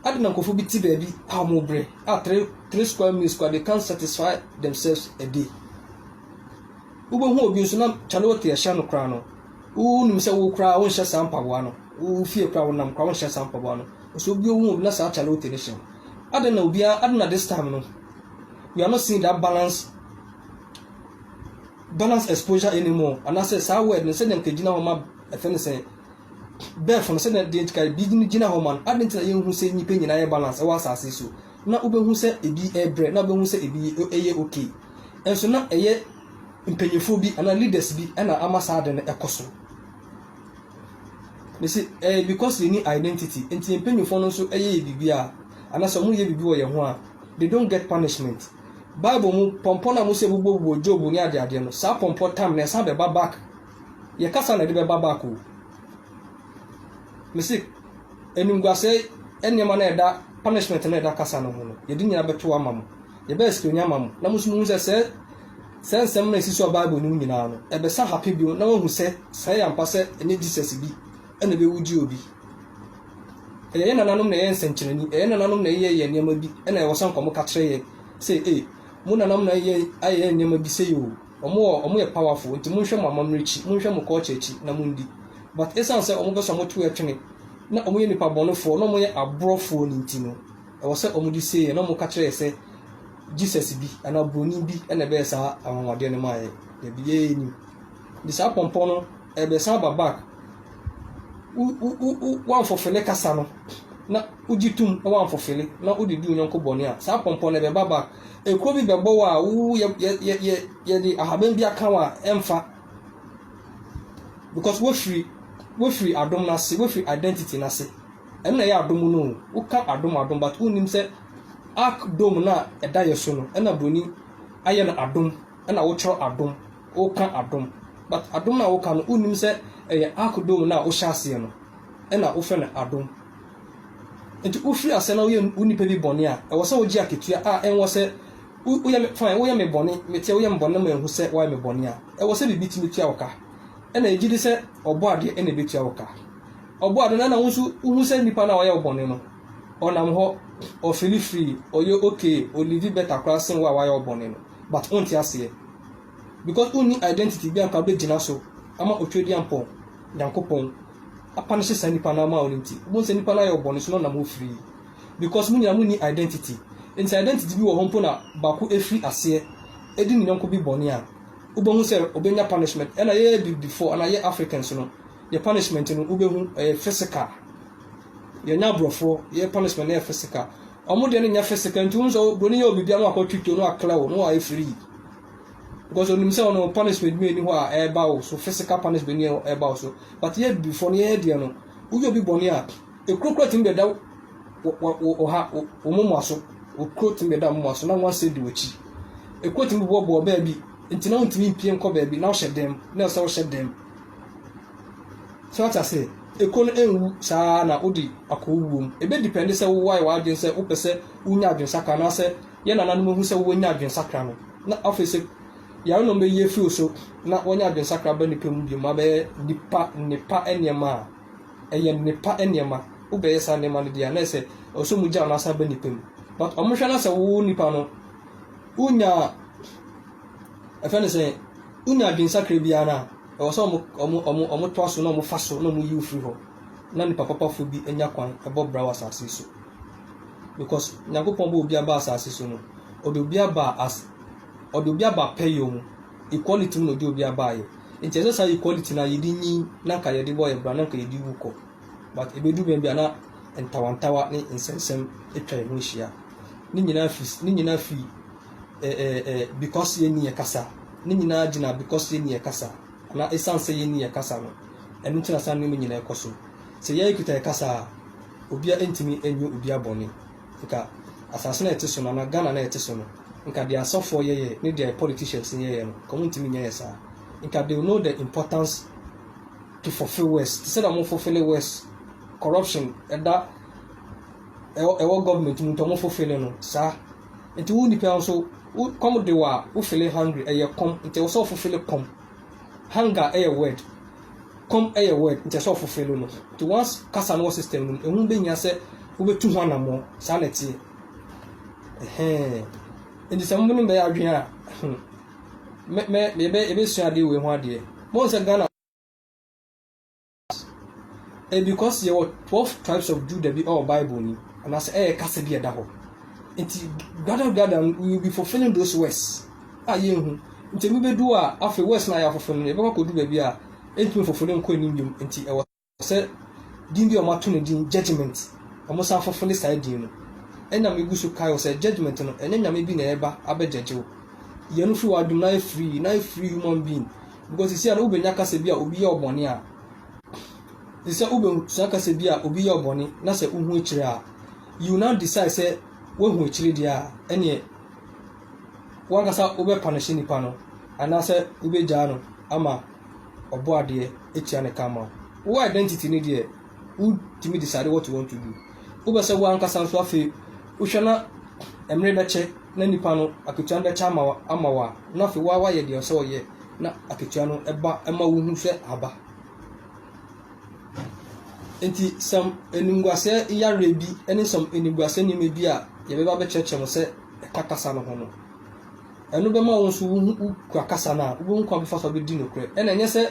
Adɛn na nkurɔfo bi te baabi a wɔbrɛ a three three square meals koraa they can't satisfy themselves a day? Wobɛhu obi nso na kyale wote ɛhyɛ no koraa no, wonim sɛ wo koraa wonhyɛ saa mpaboa no, wo fie koraa wonam koraa wonhyɛ saa mpaboa no. Nso obi ohu obi na saa kyale wote no hyɛ no. Adɛn na obiara, adɛn na this time no, we are not seeing that balance balance exposure anymore anaasɛ saa word no sɛdeɛ nka ɛgyina hɔ ma ɛfɛ no sɛ Bɛfo no, sɛnea deɛ nti ka ebi gyina hɔ ma no, adɛn nti na yɛnhu sɛ nnipa nyinaa yɛ balance wɔ asase so? Na wobɛhu sɛ ebi rebrɛ, na wobɛhu sɛ ebi yɛ okay. Nso na ɛyɛ mpanyinfoɔ bi anaa leaders bi na ama saa ade no ɛkɔ so. Ne se ɛyɛ because yɛni identity, nti yɛn mpanyinfoɔ no nso yɛ yɛ biribi a, anaasɛ wɔyɛ biribi wɔ yɛn ho a, they don't get punishment. Bible mu pɔmpɔ no a wɔsi bobɔ bobɔ Job ne adeadeɛ no, saa pɔmpɔ time no ɛsan bɛba back Yɛ kasa na ɛde bɛba back o. Mese animguasɛe nneɛma no a ɛda punishment no a ɛda kasa no ho no, yɛde nyinaa bɛto ama mo. Yɛbɛyɛ sika onya ama mo. Na mo nso muhu sɛ sɛ sɛ nsɛm no a ɛsi so a Bible nim nyinaa no, ɛbɛsa hape bio na wahu sɛ saa yɛ ampa sɛ ɛnyɛ Jesus bi ɛna ɛbɛwu gye obi. Ɛyɛ yɛn nananom na ɛyɛ nsɛnkyerɛnni, ɛyɛ nananom na ɛyɛ yɛ nneɛma bi ɛna ɛwɔ sɛ nkɔmɔ ka kyerɛ yɛ sɛ e, mo nananom na ayɛ yɛ nneɛma bi sɛ yɛ o. Ɔmo wɔ ɔmo yɛ powerful nti monhwɛ mo amammerɛ akyi monhwɛ mo culture akyi na mondi but ɛsan sɛ ɔmo pɛsɛ ɔmo to ɛtwene na ɔmo yɛ nnipa bɔnefoɔ na ɔmo yɛ abrɔfoɔ no nti no ɛwɔ sɛ ɔmo de seeyɛ na ɔmo ka kyerɛ yɛ sɛ Jesus bi anaa broni bi na ɛbɛyɛ saa anwanwadeɛ no maa yɛ dabi yɛ yɛ nim nti saa pɔmpɔ no ɛbɛsan aba back wo wo wo wanfofele kasa no na wogye tum wanfofele na wode di wo nyɔnko bɔne a saa pɔmpɔ no ɛbɛba back Ekuro bi bɛ bɔ wo a wo yɛ yɛ yɛ yɛ yɛ de ahaban bi aka wo a ɛnfa because wo firi wo firi adom no ase wo firi identity no ase ɛno na ɛyɛ adom no o wo ka adom adom but wo nim sɛ ark dome no a ɛda yɛ so no ɛna broni ayɛ no adom ɛna wo twerɛ adom wo ka adom but adom no a wo ka no wo nim sɛ ɛyɛ ark dome no a wo hyɛ aseɛ no ɛna wo fɛ no adom. Nti wofiri aseɛ na woyɛ wo nipa bi bɔne a, ɛwɔ sɛ wogye akatua a ɛnwɔ sɛ woyɛ me fine, woyɛ me bɔne, meteɛ woyɛ me bɔne na manhu sɛ woayɛ me bɔne a, ɛwɔ sɛ biribi tumi tua wo ka. Ɛna ɛgye di sɛ ɔbɔ adeɛ ɛna ɛbɛtua wo ka. Ɔbɔ adeɛ no ɛna wo nso wohu sɛ nipa no a ɔyɛ wo bɔne no, ɔnam hɔ, ɔfili free, ɔyɛ okay, ɔlivi better koraa sen wo a woayɛ wo bɔne no. But wonte aseɛ. Because wonni identity bi a nka wobɛgyina so ama otwadeɛ ampɔn, Nyankopɔn. apa no hyɛ saa nipa no ama wo no nti wobɛhu sɛ nipa no ayɛ wo bɔne so na ɔnam hɔ firi because mo nyinaa monni identity nti identity bi wɔ hɔ mpo na baako ɛfiri aseɛ ɛdi ne yɔnko bi bɔne a wobɛhu sɛ ɔbɛnya punishment ɛna yɛyɛ bi before ɛna yɛ Africans no yɛ punishment no wobɛhu ɛyɛ physical yɛnyɛ aborɔfoɔ yɛ punishment no yɛ physical ɔmo deɛ no nyɛ physical nti wohu sɛ broni yɛ obibi ama akɔ twitwo no aklɛ wo no ayɛ free because onim sɛ ɔno punishment bi ni hɔ a ɛreba wo so physical punishment ni ɛreba wo so but yɛ abibifoɔ no yɛyɛ deɛ no woyɛ obi bɔne a ekuro kura tumi bɛ da ɔha wɔn mu aso okuro tumi bɛ da wɔn mu aso na wɔn asɛ di wɔkyi ekuro tumi bɔ bɔɔ baabi nti na wɔn tumi mpie nkɔ baabi na ɔhyɛ dɛm na ɔsɛ ɔhyɛ dɛm so ata sɛ ekuro no enwu saa na odi akɔ wuo mu ebe depend sɛ wowɔ ayɛ w'adwene sɛ wopɛ sɛ wonya adwensaka anaasɛ Yɛn nananom ahu sɛ wɔnya adwensakra no, na afei sɛ yare no bɛyɛ fi so na wɔnya adwensakra ba nnipa mu bio ma abɛyɛ nnipa nnepa nneɛma a, ɛyɛ nnepa nneɛma. Wobɛyɛ saa nneɛma no deɛ a, na ɛyɛ sɛ ɛwɔ sɛ wɔgyaw na asan aba nnipa mu. But wɔhwɛ na sɛ wo nipa no, wonya, ɛfɛ no sɛ, wonya adwensakra biara no a, ɛwɔ sɛ wɔn toa so na wɔfa so na wɔyi wo firi hɔ na nnipa papafoɔ bi nya kwan bɔ bra wɔ asase yi so. because Nyankopɔn bɔɔ obiara baa asaase so no, ɔde obiara baa as ɔde obiara baa pɛyɛ mu. Equality mu na ɔde obiara baeɛ. Nti ɛsɛ saa equality no a yɛde nyin na nka yɛde bɔ yɛ bra na nka yɛde wu kɔ. But ɛbɛdu baabi a na ntawantawa ne nsɛmnsɛm atwa yɛn ho ahyia. Ne nyinaa fi ne nyinaa fi eh, eh, eh, because yɛnni yɛ kasa. Ne nyinaa gyina because yɛnni yɛ kasa. Anaa ɛsiane sɛ yɛnni yɛ kasa no, ɛno nti na saa nneɛma nyinaa ɛkɔ so. Sɛ yɛkita yɛ kasa a, Obia ntumi nyɛ obia bɔne. Nka asase no a yɛte so no anaa Ghana no a yɛte so no, nka deɛ asɔfoɔ yɛyɛ ne deɛ politicians no yɛyɛ no, nka wɔntumi nyɛɛ saa. Nka they will know the importance to fulfill words, te sɛ deɛ wɔfulfille words, corruption ɛda ɛwɔ ɛwɔ government mu nti wɔfulfille no saa. Nti wo nipa nso, wo kɔm de wo a, wo fele hungry, ɛyɛ kɔm, nti ɛwɔ sɛ wɔfulfille kɔm. Hunger yɛ word, kɔm yɛ word nti ɛsɛ sɛ ɔfofelo no. Nti once kasa no wɔ system no mu, ɛho bɛhia sɛ wobɛtu ho anammɔn. Saa na ɛteɛ. Ɛhɛn. Nti sɛ mo ne bɛyɛ adwene a, hmm, mɛ, mɛ, yɛbɛ, yɛbɛsua adeɛ wei ho adeɛ. Mo sɛ Ghana Ɛyɛ because yɛwɔ twelve tribes of Judah bi ɛwɔ Bible nim anaasɛ ɛyɛ kasa bi a ɛda hɔ. Nti gather gather no we will be fulfilling those words a yɛnhu. Nti ebi bɛdu a afei words no a yɛafoforo no yɛbɛkɔ akɔdu baabi a ɛntumi foforo no nkɔ anim biom. Nti ɛwɔ sɛ din bi a wɔato no din judgment wɔn san foforo ne saa din no. Ɛna megu so kae wɔ sɛ judgment no ɛnyɛ nyame bi na ɛba abɛgyɛgye wo. Yɛn no firi w'adom na yɛ free na yɛ free human being. Because sisia no wobenya kasa bi a obi yɛ wo bɔne a te sɛ wobesua kasa bi a obi yɛ wo bɔne na sɛ wohu akyire a you now decide sɛ woahu akyire deɛ a ɛneɛ wankasa wobɛ panish nipa no anaasɛ wobegyaa no ama ɔbɔ adeɛ atua ne karma wo identity no deɛ wotumi decide what you want to do wopɛ sɛ woankasa nso afei wohwɛ na mmere bɛkyɛ na nipa no akatua no bɛkyɛ ama ama wo a na afei woa woayɛ deɛ ɔsɛ ɔyɛ na akatua no ɛba ɛma wohu sɛ aba nti sɛm animguaseɛ yareɛ bi ne sɛm animguaseɛ nneɛma bi a yɛbɛba bɛkyerɛkyerɛ mo sɛ ɛka kasa no ho no Ɛno bɛma wo nso wo ho, wokura kasa no a, wobɛhu kwan bɛfa so abɛdi nokorɛ. Ɛna ɛnyɛ sɛ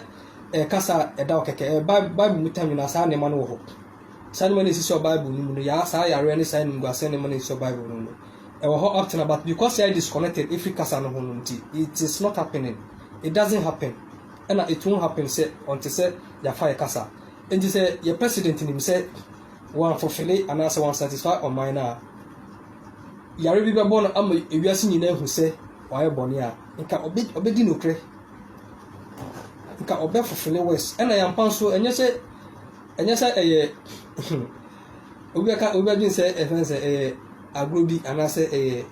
ɛyɛ kasa a ɛda hɔ kɛkɛ, ɛyɛ Bible, Bible mu tanwene a saa nneɛma no wɔ hɔ. Saa nneɛma no ɛsisi wɔ Bible no mu no, ya, saa yareɛ ne saa animguaseɛ nneɛma no ɛsisi wɔ Bible no mu no, ɛwɔ hɔ up to now, but because yɛayɛ disconnected ɛfiri kasa no ho no nti, it is not happening, it doesn't happen, ɛna it won't happen sɛ until sɛ yɛafa yɛ kasa. Nti sɛ yɛ President nim sɛ wɔanfulfille anaasɛ wɔansatisfy ɔman no a, yare bi bɛbɔ no ama ewiase nyinaa ahu sɛ wayɛ bɔne a, nka ɔbɛ ɔbɛdi nokorɛ. Nka ɔbɛfefe ne wɛs. Ɛna yɛn ampa nso ɛnyɛ sɛ ɛnyɛ sɛ ɛyɛ obi bɛka obi bɛdwen sɛ ɛfɛn sɛ ɛyɛ agorɔ bi anaasɛ ɛyɛ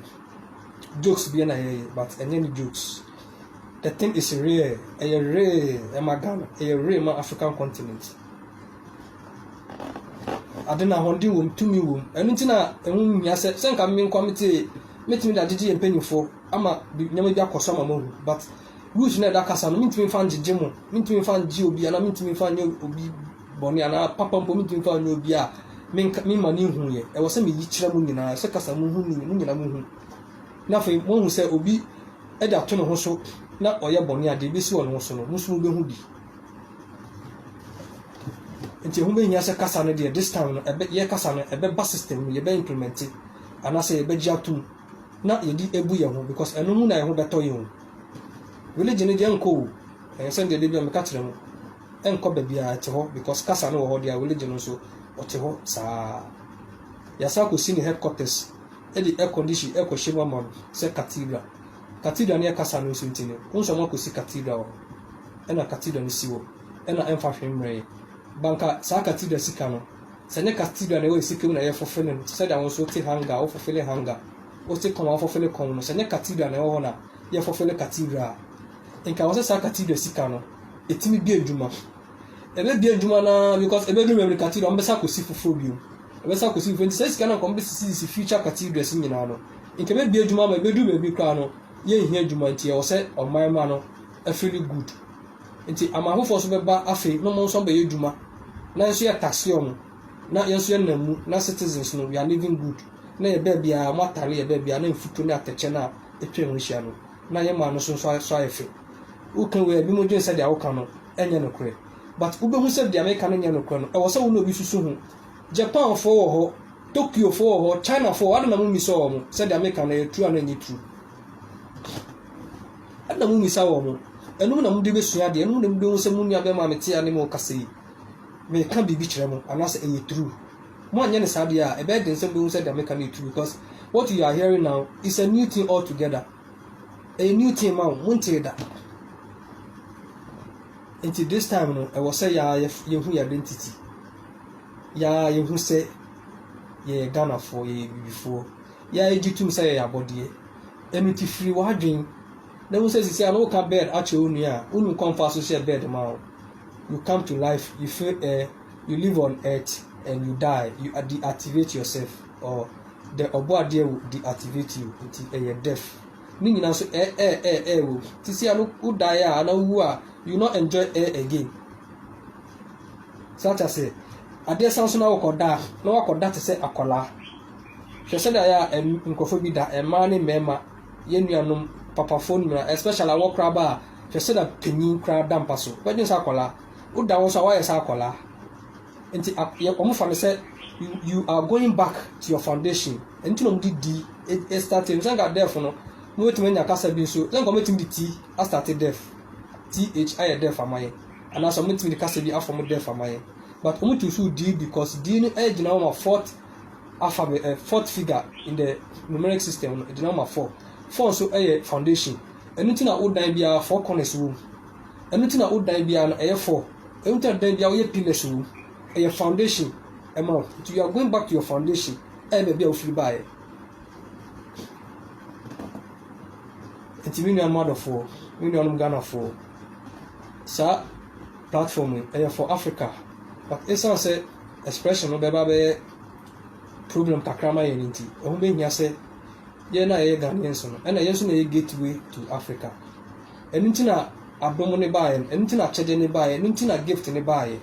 jokes bi na ɛyɛ but ɛnyɛ ne jokes. The thing is real. Ɛyɛ real ɛma Ghana. Ɛyɛ real ma African continent. ade no ahoɔden wom, tumi wom. Ɛno nti na ɛho nhia sɛ sɛ nka me nkoa mete metumi de agyegye yɛn mpanyimfo ama nneɛma bi akɔ so ama moahu but rules na ɛda kasa no mentumi mfa ngyegye mo mentumi mfa ngye obi anaa mentumi mfa nyɛ obi bɔne anaa papa mpo mentumi mfa nyɛ obi a mema no nhu yɛ ɛwɔ sɛ meyi kyerɛ mo nyinaa sɛ kasa mo hu mo nyinaa mo hu na afei moahu sɛ obi de ato ne ho so na ɔyɛ bɔne a deɛ ebesi wɔ ne ho so no mo nso mobɛhu bi Nti ɛho bɛhia sɛ kasa no deɛ this time no ɛbɛ yɛ kasa no ɛbɛba system no yɛbɛ implement anaasɛ yɛbɛgye atom na yɛde ebu yɛn ho because ɛno mu na yɛn ho bɛtɔ yɛn o religion no deɛ nkɔ o ɛyɛ sɛ deɛ de bi a meka kyerɛ mu ɛnkɔ baabi a ɛte hɔ because kasa no wɔ hɔ deɛ religion nso ɔte hɔ saa yɛasa akɔsi ne headquarters ɛde air condition ɛkɔhyɛ mu ama no sɛ cathedral Cathedral no yɛ kasa no nso nti no, wohu sɛ wɔakɔsi cathedral hɔ, ɛna cathedral no si hɔ, ɛna ɛmfa hwee mmerɛeɛ. Ba nka saa cathedral sika no, sɛ ɛnyɛ cathedral na ɛwɔ yɛn sika mu na yɛfofele no, te sɛ deɛ wo nso wote hanger a wofofele hanger, wote kɔn a wofofele kɔn no, sɛ ɛnyɛ cathedral na ɛwɔ hɔ na yɛfofele cathedral a, nka ɛwɔ sɛ saa cathedral sika no, ɛtumi di adwuma. ɛbɛbie adwuma no ara because ɛbɛduru baabi no cathedral ɔmbɛsa akɔsi foforɔ bio ɛbɛsa akɔsi foforɔ nti saa sika no nka ɔmbɛsisisi future cathedrals nyinaa no nka ɛbɛbie adwuma ama ɛbɛduru baabi koraa no yɛnhia adwuma nti ɛwɔ sɛ ɔman ma no afili good nti ama afoforɔ nso bɛba afei na ɔmo nso abɛyɛ adwuma na nso yɛ taxi ɔmo na yɛn nso yɛnam mu na citizens no we are living good na yɛ baabi a ɔmo atare yɛ baabi a na mfutuo ne atɛkyɛ no a ɛtwa ɛho hyia no na yɛ maa no nso nso ayɛ fɛ woka wei a ebinom dwen sɛdeɛ woka no ɛnyɛ nokorɛ. But wobɛhu sɛ deɛ meka no nyɛ nokorɛ no, ɛwɔ sɛ wo ne obi susu ho. Japanfoɔ wɔ hɔ, Tokyofoɔ wɔ hɔ, Chinafoɔ wɔ hɔ, adɛn na mommisɔɔ wɔn sɛ deɛ meka no ɛyɛ true anaa ɛnyɛ true? Adɛn na mommisa wɔn? Ɛno mu na mode bɛsua adeɛ, ɛno mu na mobɛhu sɛ mo nuabɛrima a mete a ne mo rekasa yi, meka biribi kyerɛ mo anaasɛ ɛyɛ true. Moanyɛ no saa deɛ a, ɛbɛyɛ den sɛ mobɛhu sɛ deɛ meka no yɛ true because what you are hearing now is a new thing altogether. ɛyɛ new thing ma wɔn montee da nti this time no ɛwɔ sɛ yɛa yɛhu yɛ identity yɛa yɛhu sɛ yɛyɛ ghanafoɔ yɛyɛ bibifoɔ yɛa yɛgye tum sɛ yɛyɛ abɔdeɛ ɛno ti firi w'adwen na wo sɛ sisi a na woka bed akyerɛ wo nua a wonim kɔmfa so hyɛ bed ma wo you come to life you feel air You live on earth and you die, you deactivate yourself or the ɔbɔadeɛ will deactivate you, nti ɛyɛ death. Ne nyinaa nso ɛ ɛ ɛ ɛ wɔ mu. Ti si ano wo die a ana wowu a you not enjoy ɛ again. Saa ta sɛ adeɛ san so na wokɔda a na wakɔda te sɛ akwadaa. Hwɛ sɛdeɛ ayɛ a nkurɔfoɔ bi da mmaa ne mmarima yɛn nuanom papafoɔ no nyinaa especially awɔ koraba a hwɛ sɛdeɛ panyin koraa da mpa so. Wobɛdwene sɛ akwadaa. woda hɔ nso a woayɛ sɛ akwadaa. Nti wɔfa no sɛ you are going back to your foundation. Ɛno nti na wɔde di ɛstate no. Sɛ nka def no, mobɛtumi anya kasa bi nso. Sɛ nka wɔbɛtumi de ti astate def. Th ayɛ def ama yɛ. Anaasɛ wɔbɛtumi de kasa bi afɔ mo def ama yɛ. But wɔto nso di because di no gyina hɔ ma fourth alphabet, uh, fourth figure in the numeric system no gyina hɔ ma four. Four nso yɛ foundation. Ɛno nti na wodan biara four corners wɔ mu. Ɛno nti na wo dan biara no ɛyɛ four. Ɛno nti na dan biara woyɛ pillars wɔ mu. Ɛyɛ foundation ɛma wo. Nti you are going back to your foundation. Ɛyɛ baabi a wofiri baeɛ. Nti me nuanom adɔfoɔ, me nuanom Ghanafoɔ, saa platform yi ɛyɛ for Africa. But ɛsiane sɛ expression no bɛba bɛyɛ problem kakra ma yɛn nti, ɛho bɛhia sɛ yɛn a yɛyɛ Ghanaians no, ɛna yɛn nso na yɛ gateway to Africa. Ɛno nti na adom no baeɛ no. Ɛno nti na akyɛdeɛ no baeɛ. Ɛno nti na gift no baeɛ.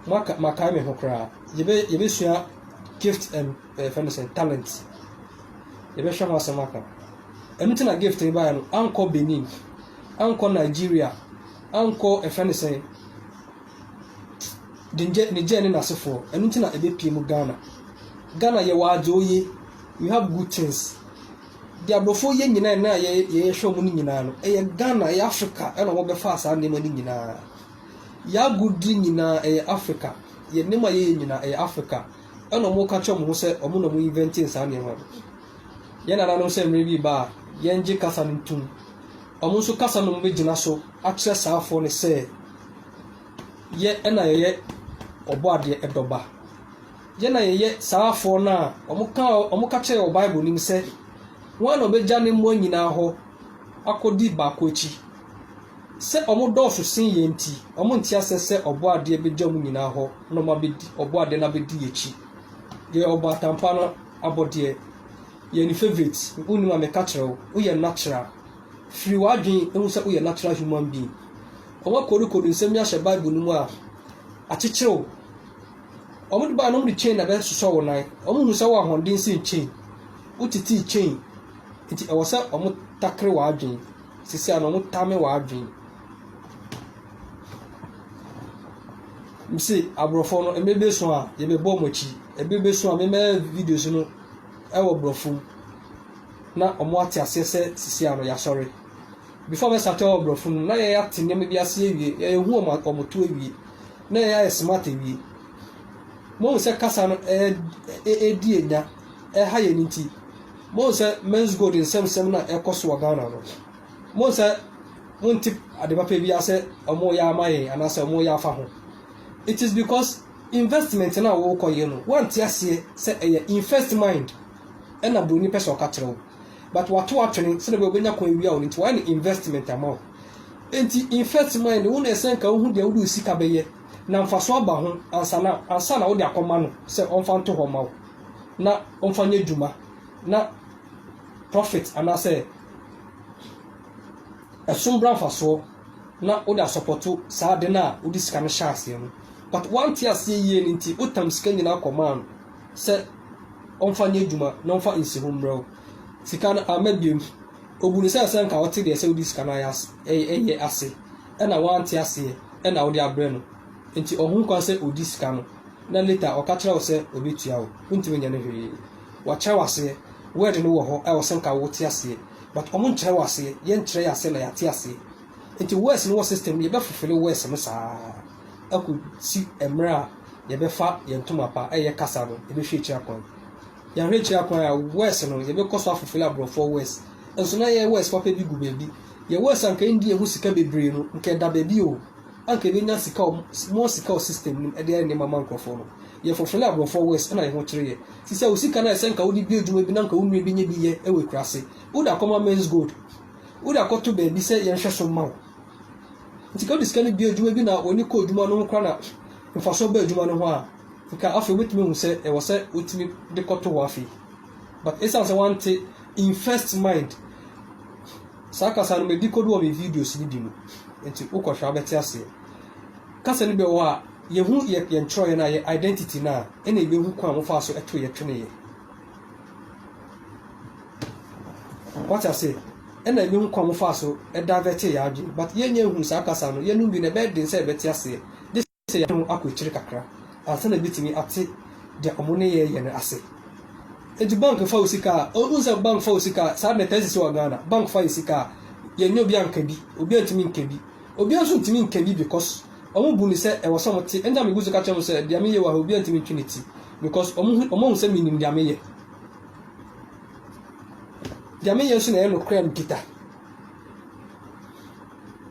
Moaka, makae me ho koraa. Yɛbɛ, yɛbɛsua gift and, eh, fɛn no sɛn, talent. Yɛbɛhwɛ ho asɛm aka. Ɛno nti na gift no baeɛ no. Ankɔ Benin. Ankɔ Nigeria. Ankɔ, ɛfɛ no sɛn, Niger, Niger ne n'asefoɔ. Ɛno nti na ɛbɛpie mu Ghana. Ghana yɛwɔ adze oye. We have good things. Deɛ aborɔfoɔ yɛ nyinaa na yɛ yɛhwɛ wɔn no nyinaa no ɛyɛ Ghana ɛyɛ Africa ɛna wɔn bɛfaa saa nneɛma no nyinaa y'agodie nyinaa ɛyɛ Africa yɛ nneɛma a yɛyɛ nyinaa ɛyɛ Africa ɛna wɔn ka kyerɛ wɔn ho sɛ wɔn na wɔn invɛntin saa nneɛma no yɛn nananom sɛ mmerɛ bi ba a yɛn gye kasa no ntum wɔn nso kasa no wɔn bɛgyina so akyerɛ saa afoɔ no sɛ yɛ ɛna yɛyɛ ɔbɔ adeɛ ɛdɔba. Yɛ na yɛyɛ saa afɔɔ no a wɔkaa wɔka kyerɛɛ wɔ Bible no mu sɛ, Hwan na ɔbɛgya ne mmoa nyinaa hɔ akɔdi baako akyi? Sɛ wɔdɔɔso sen yɛn nti, wɔnte aseɛ sɛ Ɔbɔadeɛ bɛgya wɔn nyinaa hɔ na wɔabɛdi Ɔbɔadeɛ no abɛdi akyi. Yɛyɛ ɔbaatanpa no abɔdeɛ. Yɛyɛ ne favourite. Wonim a meka kyerɛ wo, woyɛ natural. Firi w'adwene ho sɛ woyɛ natural human being. Wɔakorikori nsɛm yi ahyɛ Bible no mu a, akyekyere wo. Wɔn de baa no, wɔn de chain na ɛbɛsosɔ wɔn nan. Wɔn hu sɛ wɔn ahoɔden sen chain. Wotetee chain. Nti ɛwɔ sɛ wɔn takere wɔn adwene. Sisi ano wɔn tame wɔn adwene. Mse aborɔfo no ɛmɛ bɛ so a yɛbɛ bɔ wɔn akyi. Ɛbɛ bɛ so a mɛmɛ videos no ɛwɔ borɔfo mu. Na wɔn ate aseɛ sɛ sisi ano yasɔre. Before mɛ sate ɛwɔ borɔfo no mu na yɛ ate nneɛma bi aseɛ wie. Yɛ yɛ hu wɔn wɔn to awie. na ɛyɛ ayɛ smart awie. Mohu sɛ kasa no ɛredi anya, ɛha yɛn nti. Mohu sɛ men's gold nsɛmsɛm na ɛkɔ so wɔ Ghana no. Mohu sɛ monte ade papa bi asɛ ɔmo yɛ ama yɛn anaasɛ ɔmo yɛ afa ho. It is because investment na wɔkɔ yɛ no, wante aseɛ sɛ ɛyɛ invest mind ɛna buroni pɛ sɛ ɔka kyerɛ wo. But wato atwene sɛdeɛ bɛyɛ ɔbɛnya kwan awia wo no nti wayɛ no investment ama wo. Enti infect mind wo na ɛsɛ nka wohu deɛ wode wo sika bɛyɛ na mfasoɔ aba ho ansa na ansa na wode akɔma no sɛ ɔmfa nto hɔ mma wo na ɔmfa nyɛ dwuma na profit anaasɛ ɛsom bra mfasoɔ na wode asɔpɔto saa ade no a wode sika no hyɛ aseɛ no but woante aseɛ yie no nti wotam sika nyinaa kɔmaa no sɛ ɔmfa nyɛ dwuma na ɔmfa nsi ho mmerɛ wo sika no amma biom Obu no sɛ sɛ nka ɔte deɛ sɛ wode sika no ayɛ ase na wante aseɛ na wode abrɛ no nti ɔho kwan sɛ ɔdi sika no na later ɔka kyerɛ wo sɛ ɔbɛtua wo, wontumi nyɛ no hwee. Wakyerɛ wo aseɛ, word no wɔ hɔ ɛwɔ sɛ nka wote aseɛ but ɔmo nkyerɛ wo aseɛ, yɛnkyerɛ yɛn aseɛ na yɛate aseɛ nti words no wɔ system mu yɛbɛ fulfille words no saa akɔsi mmerɛ a yɛbɛfa yɛn ntoma pa ɛyɛ kasa no ɛbɛhwɛ akyiri akwan. Yɛahwɛ akyiri akwan a, Wes no, yɛbɛkɔ so afefele aborɔfoɔ Wes. Nso na yɛyɛ Wes papa bi gu baabi. Yɛn Wes a anka ɛnndii yɛn ho sika bebree no, anka ɛda baabi o. Anka yɛbɛnya sika wɔ more sika wɔ system no mu de ayɛ nneɛma ama nkorɔfoɔ no. Yɛfefele aborɔfoɔ Wes na yɛn ho kyere yɛn. Sisi a wo sika no ayɛ sɛ anka wode bue adwuma bi na anka wo nua bɛnya bi yɛ wɔ akuraase. Wode akɔma Men's Gold. Wode akɔto baabi sɛ yɛnhwɛso mma wo. Nti ka wode sika no bue adwuma bi na w'ani kɔ adwuma no ho koraa na mfasoɔ ba adwuma no ho a, Nka afei wobɛtumi ahu sɛ ɛwɔ sɛ wotumi de kɔto hɔ afei but ɛsiane sɛ wante invest mind saa kasa no madi kɔdu wɔ me videos no bi mu nti wokɔhwɛ abɛte aseɛ kasa no bi wɔ hɔ a yɛhu yɛ yɛn twerɛeɛ no a yɛ identity no a ɛna yɛbɛhu kwan a mofaa so ɛto yɛ tweneeɛ wate aseɛ ɛna yɛbɛhu kwan mofaa so ɛdavɛte yɛ adwene but yɛnyɛ hu saa kasa no yɛnom bi na ɛbɛyɛ den sɛ yɛbɛte aseɛ Gye sɛ yɛatwe wɔn akɔ akyiri kakra ansa na yebetumi ate nea wɔn nneyɛe yɛ no ase. Enti bank fa wo sika a, wohu sɛ bank fa wo sika a, saa de na ɛtaa sisi wɔ Ghana. Bank fa yɛn sika a, yɛnyɛ obi anka bi, obiara ntumi nka bi. Obiara nso ntumi nka bi because wɔbu no sɛ ɛwɔ sɛ wɔte. Ɛnti na migu so ka kyerɛ wɔn sɛ nea meyɛ wɔ ha obiara ntumi ntwe ne ti because wɔahu sɛ minim nea meyɛ. Nea meyɛ nso na ɛyɛ nokorɛ a mikita.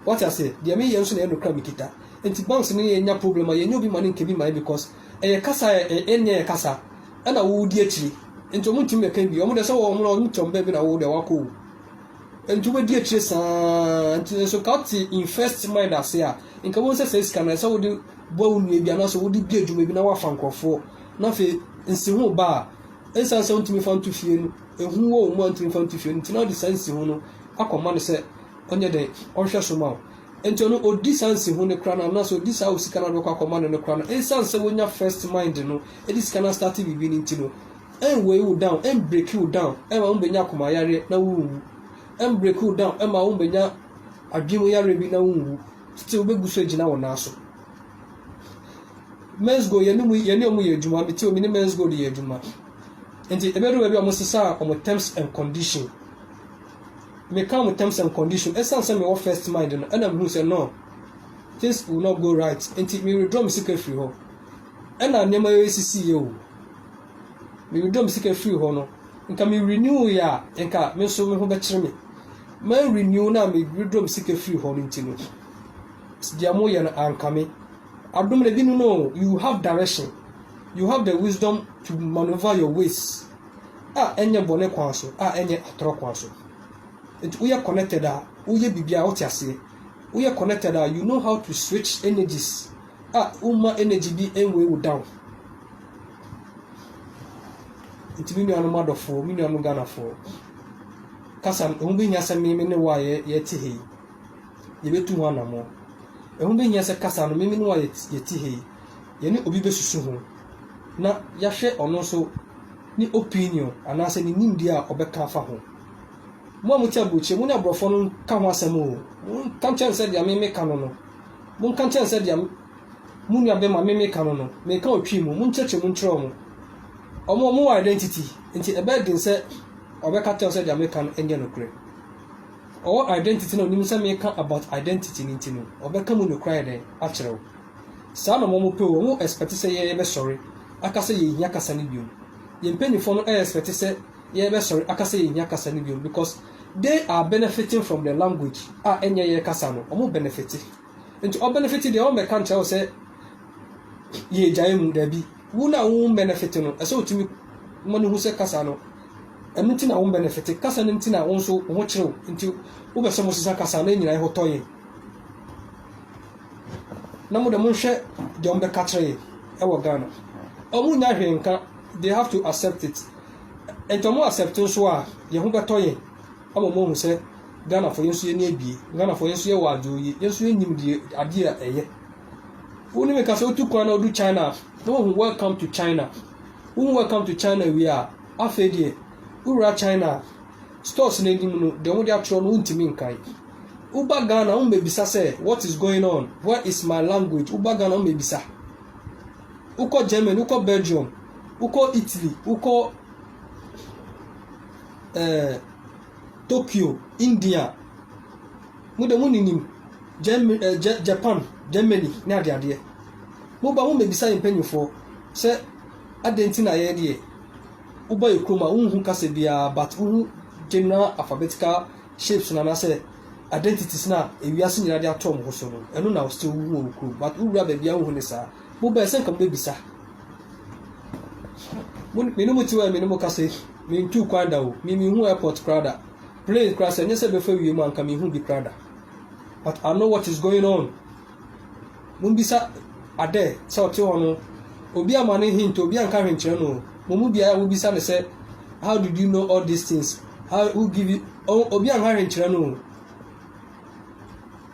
Wate aseɛ? Deɛ meyɛ nso na ɛyɛ nokora mekita. Nti banks ne yɛn nya problem a yɛnyɛ obi mane nka bi mae because ɛyɛ kasa a ɛnyɛ yɛn kasa ɛna wo di akyire. Nti wɔn ntumi mɛka bi. Wɔn deɛ sɛ wɔn wɔn ntɔn bɛn bi na wo deɛ wakɔ o. Nti wobɛdi akyire saa nti nso nka wote in first mind ase a nka wɔn sɛ sɛ sika na ɛsɛ wode boa wo nua bi anaasɛ wode di adwuma bi na wafa nkurɔfoɔ na afei nsi ho ba a ɛnsan sɛ wontumi fa nto fie no ehu wɔ wɔn mu a ntumi fa nto fie no nti na wɔde saa nsi ho no akɔma no sɛ ɔnyɛ dɛn, ɔnhwɛ so mma wo. Enti ɔno ɔdi saa nsiho no koraa no, anaasɛ ɔdi saa o sika no a wode bɛkɔ akɔma no no koraa no, ɛnsiane sɛ wonya first mind no de sika no astate biribi no nti no, ɛnweigh wo down, ɛnbreki wo down ɛmma wonbɛnya akomayareɛ na wonwu, ɛnbreki wo down ɛmma wonbɛnya adwene mu yareɛ bi na wonwu, still wobɛgu so agyina wo nan so. Men's Gold yɛne mu yɛne wɔn yɛ adwuma, mete wɔn ne Men's Gold yɛ adwuma. Nti ɛbɛdu baabi a wɔn sesaa wɔn terms and condition. Mekaa mo terms and condition, ɛsiane sɛ mewɔ first mind no ɛna mehuu sɛ no, things will not go right, nti me withdraw me sika firi hɔ. Ɛna nneɛma yɛ sisi yɛ o. Me withdraw me sika firi hɔ no, nka me renew yɛ a, nka me nso me ho bɛkyere me. Man renew na me withdraw me sika firi hɔ no nti no, deɛ mo yɛ no ankame. Adom na ebinom no, you have direction, you have the wisdom to maneuver your ways. a ɛnyɛ bɔne kwan so a ɛnyɛ atorɔ kwan so nti woyɛ connected a woyɛ biribi a wote aseɛ woyɛ connected a you know how to switch energies a woma energy bi nwei wo down nti me nuanom adɔfoɔ me nuanom ghanafoɔ kasa ɛho bɛhia sɛ meme ne wo a yɛte hei yɛbɛtu ho anammɔ ɛho bɛhia sɛ kasa no meme ne wo a yɛte hei yɛne obi bɛsusu ho na yɛahwɛ ɔno nso ne opinion anaasɛ ne nimdeɛ a ɔbɛka afa ho. Mo a mote aburokyire, mo ne aborɔfoɔ no nka ho asɛm o, monka nkyerɛ no sɛ deɛ me meka no no, monka nkyerɛ no sɛ deɛ mo nua bɛma me meka no no, meka wɔ twi mu, monkyerɛkyerɛ mu nkyerɛ wɔn. Wɔn wɔn wɔ identity, nti ɛbɛyɛ den sɛ ɔbɛka kyerɛ sɛ deɛ meka no nyɛ nokorɛ. Ɔwɔ identity na onim sɛ meka about identity no nti no, ɔbɛka mu nokorɛ ayɛ dɛn akyerɛ wo. Saa na ɔmo pɛ o, ɔmo expect sɛ yɛ bɛ sɔre aka sɛ yɛ hia kasa no biom. Yɛ mpaninfoɔ no ɛ expect sɛ yɛ bɛ sɔre aka sɛ yɛ hia kasa no biom because they are benefiting from the language a ɛ nyɛ yɛ kasa no, ɔmo benefite. Nti ɔ benefite deɛ ɔn bɛ ka nkyerɛ wo sɛ yɛ gyae mu, daabi. Wo na wo benefite no, ɛsɛ otumi ma no hu sɛ kasa no, ɛno nti na wo benefite, kasa no nti na wo nso wo ho kyerew, nti wo bɛ sɛ ɔmo sesa kasa no, ɛ nyina ɛ ho tɔ yɛn. na mo de monhwɛ deɛ wɔn bɛka kyerɛ yɛ ɛwɔ Ghana wɔn nya hwee nka they have to accept it nti wɔn accept nso a yɛn ho bɛtɔ yɛn ama wɔn ahu sɛ Ghana fo yɛn nso yɛn ni abie Ghana fo yɛn nso yɛ wɔ adwo yie yɛn nso yɛn nim deɛ adeɛ a ɛyɛ wɔn ni mi ka sɛ wotu kwan na wodu China na wɔn ho welcome to China wɔn ho welcome to China wie a afei deɛ wowura China stores no anim no deɛ wɔde atwerɛ no wontumi nkan. Woba Ghana wɔmmɛbisa sɛ what is going on, where is my language, woba Ghana wɔmmɛbisa. Wokɔ Germany, wokɔ Belgium, wokɔ Italy, wokɔ eh, Tokyo, India, mo deɛ moninim Germany, eh, Japan, Germany ne adeadeɛ. Moba mommɛbisa yɛn mpanimfoɔ sɛ adɛn nti na yɛn deɛ Wobɔ yɛ kurom a wonhu kasa biara but wohu general alphabetical shapes no anaasɛ identities no a ewiase nyinaa de ato wɔn ho so no, ɛno na still wohu wɔ wo kurom but wowura baabi a wonhu ne saa. Mobɛɛ sɛ nka mobɛbisa. Mo, me ne mo te hɔ a me ne mo kasa yi, mentuu kwan da o, me menhu airport koraa da. Plane koraa sɛ ɛnyɛ sɛ ɛbɛfa wiem a nka menhu bi koraa da. But I know what is going on Mumbisa adɛ sɛ ɔtse hɔ no, obi amma no hint, obi annka hwee nnkyerɛ no o. Mo mu biara wobisa no sɛ, How did you know all these things? How, who give you, oh, obi annka hwee nnkyerɛ no o.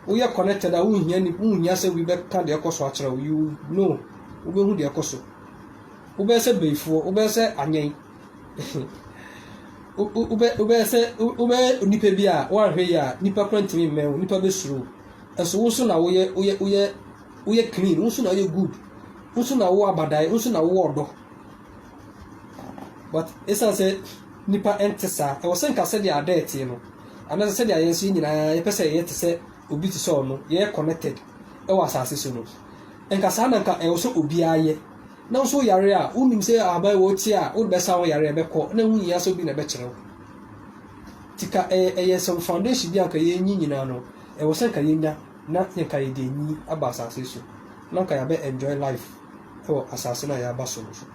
Woyɛ connected a, wonnhia ni, wonnhia sɛ obi bɛka deɛ ɛkɔ so akyerɛ wo. You know, wobɛhu deɛ ɛkɔ so. Wobɛyɛ sɛ bayifoɔ, wobɛyɛ sɛ anyɛn. Wo- wo- wobɛ- Wobɛyɛ sɛ, wo- wobɛyɛ nipa bi a woanhwɛ yie a, nipa koraa ntumi mmɛn wo, nipa bɛsuro wo. So wo nso na woyɛ woyɛ woyɛ woyɛ clean wo nso na woyɛ good wo nso na wowɔ abadae wo nso na wowɔ ɔdɔ but ɛsiane sɛ nipa ɛnte saa ɛwɔ sɛ nka sɛdeɛ ada ɛteɛ no anaasɛ sɛdeɛ yɛn nso yɛ nyinaa yɛpɛ sɛ yɛyɛ te sɛ obi te sɛ ɔno yɛyɛ connected ɛwɔ asase so no nka saa na nka ɛwɔ sɛ obiara yɛ na nso yare a wonim sɛ ahaban wɔ tie a wode bɛsa wo yare ɛbɛkɔ na ɛho nyia sɛ obi na ɛbɛkyerɛ wo tika ɛyɛ ɛyɛ some foundation bi anka yɛnyi nyinaa no Ɛwɔ sɛ nka yɛnya na yɛnka yɛde anyin aba asase so na nka yɛabɛ enjoy life wɔ asase no a yɛaba so no so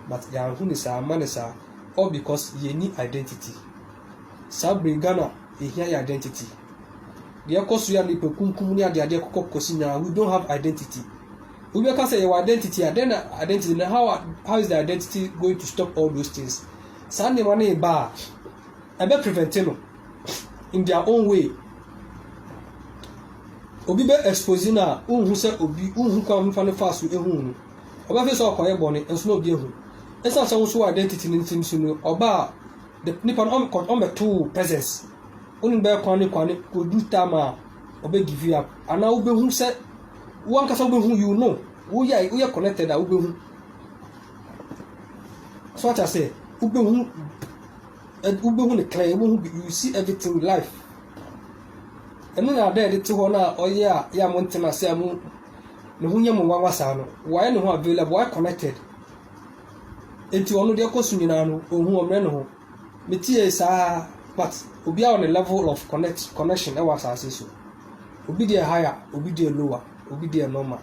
but yɛanhu no saa amma no saa all because yɛnni identity saa bere yi Ghana yɛhia yɛ identity deɛ ɛkɔ so yi a nipa kunkum ne adeadeɛ kɔkɔ kɔsi nyinaa we don't have identity obi bɛka sɛ yɛwɔ identity a then na identity no how, how is the identity going to stop all those things saa nneɛma no ba a ɛbɛ prevent no in their own way obi bɛ expose no a wohu sɛ obi wohu kwan mefa no faa so ehu no ɔbɛfe sɛ ɔkɔyɛ bɔne nso na obi ehu ɛsan sɛ woso identity no nti nso no ɔba a the nipa no ɔmbɛtoo presence wone bɛyɛ kwan ne kwan ne odu time a ɔbɛ give you up anaa wobɛhu sɛ wankasa wobɛhu you know woyɛ woyɛ connected a wobɛhu so ate ase wobɛhu Ed wobɛhu no clear, wobɛhu bi, you see everything with life. Ɛno na ada a ɛde te hɔ no a ɔyɛ a yɛ a mo ntena ase a mo ne ho nyɛ mo nwanwa saa no. Wayɛ ne ho available, wayɛ connected. Enti ɔno deɛ ɛkɔ so nyinaa no, ɔhu ɔmmerɛ ne ho. Metie saa, but obiara wɔ ne level of connect, connection ɛwɔ asase so. Obi deɛ higher, obi deɛ lower, obi deɛ normal.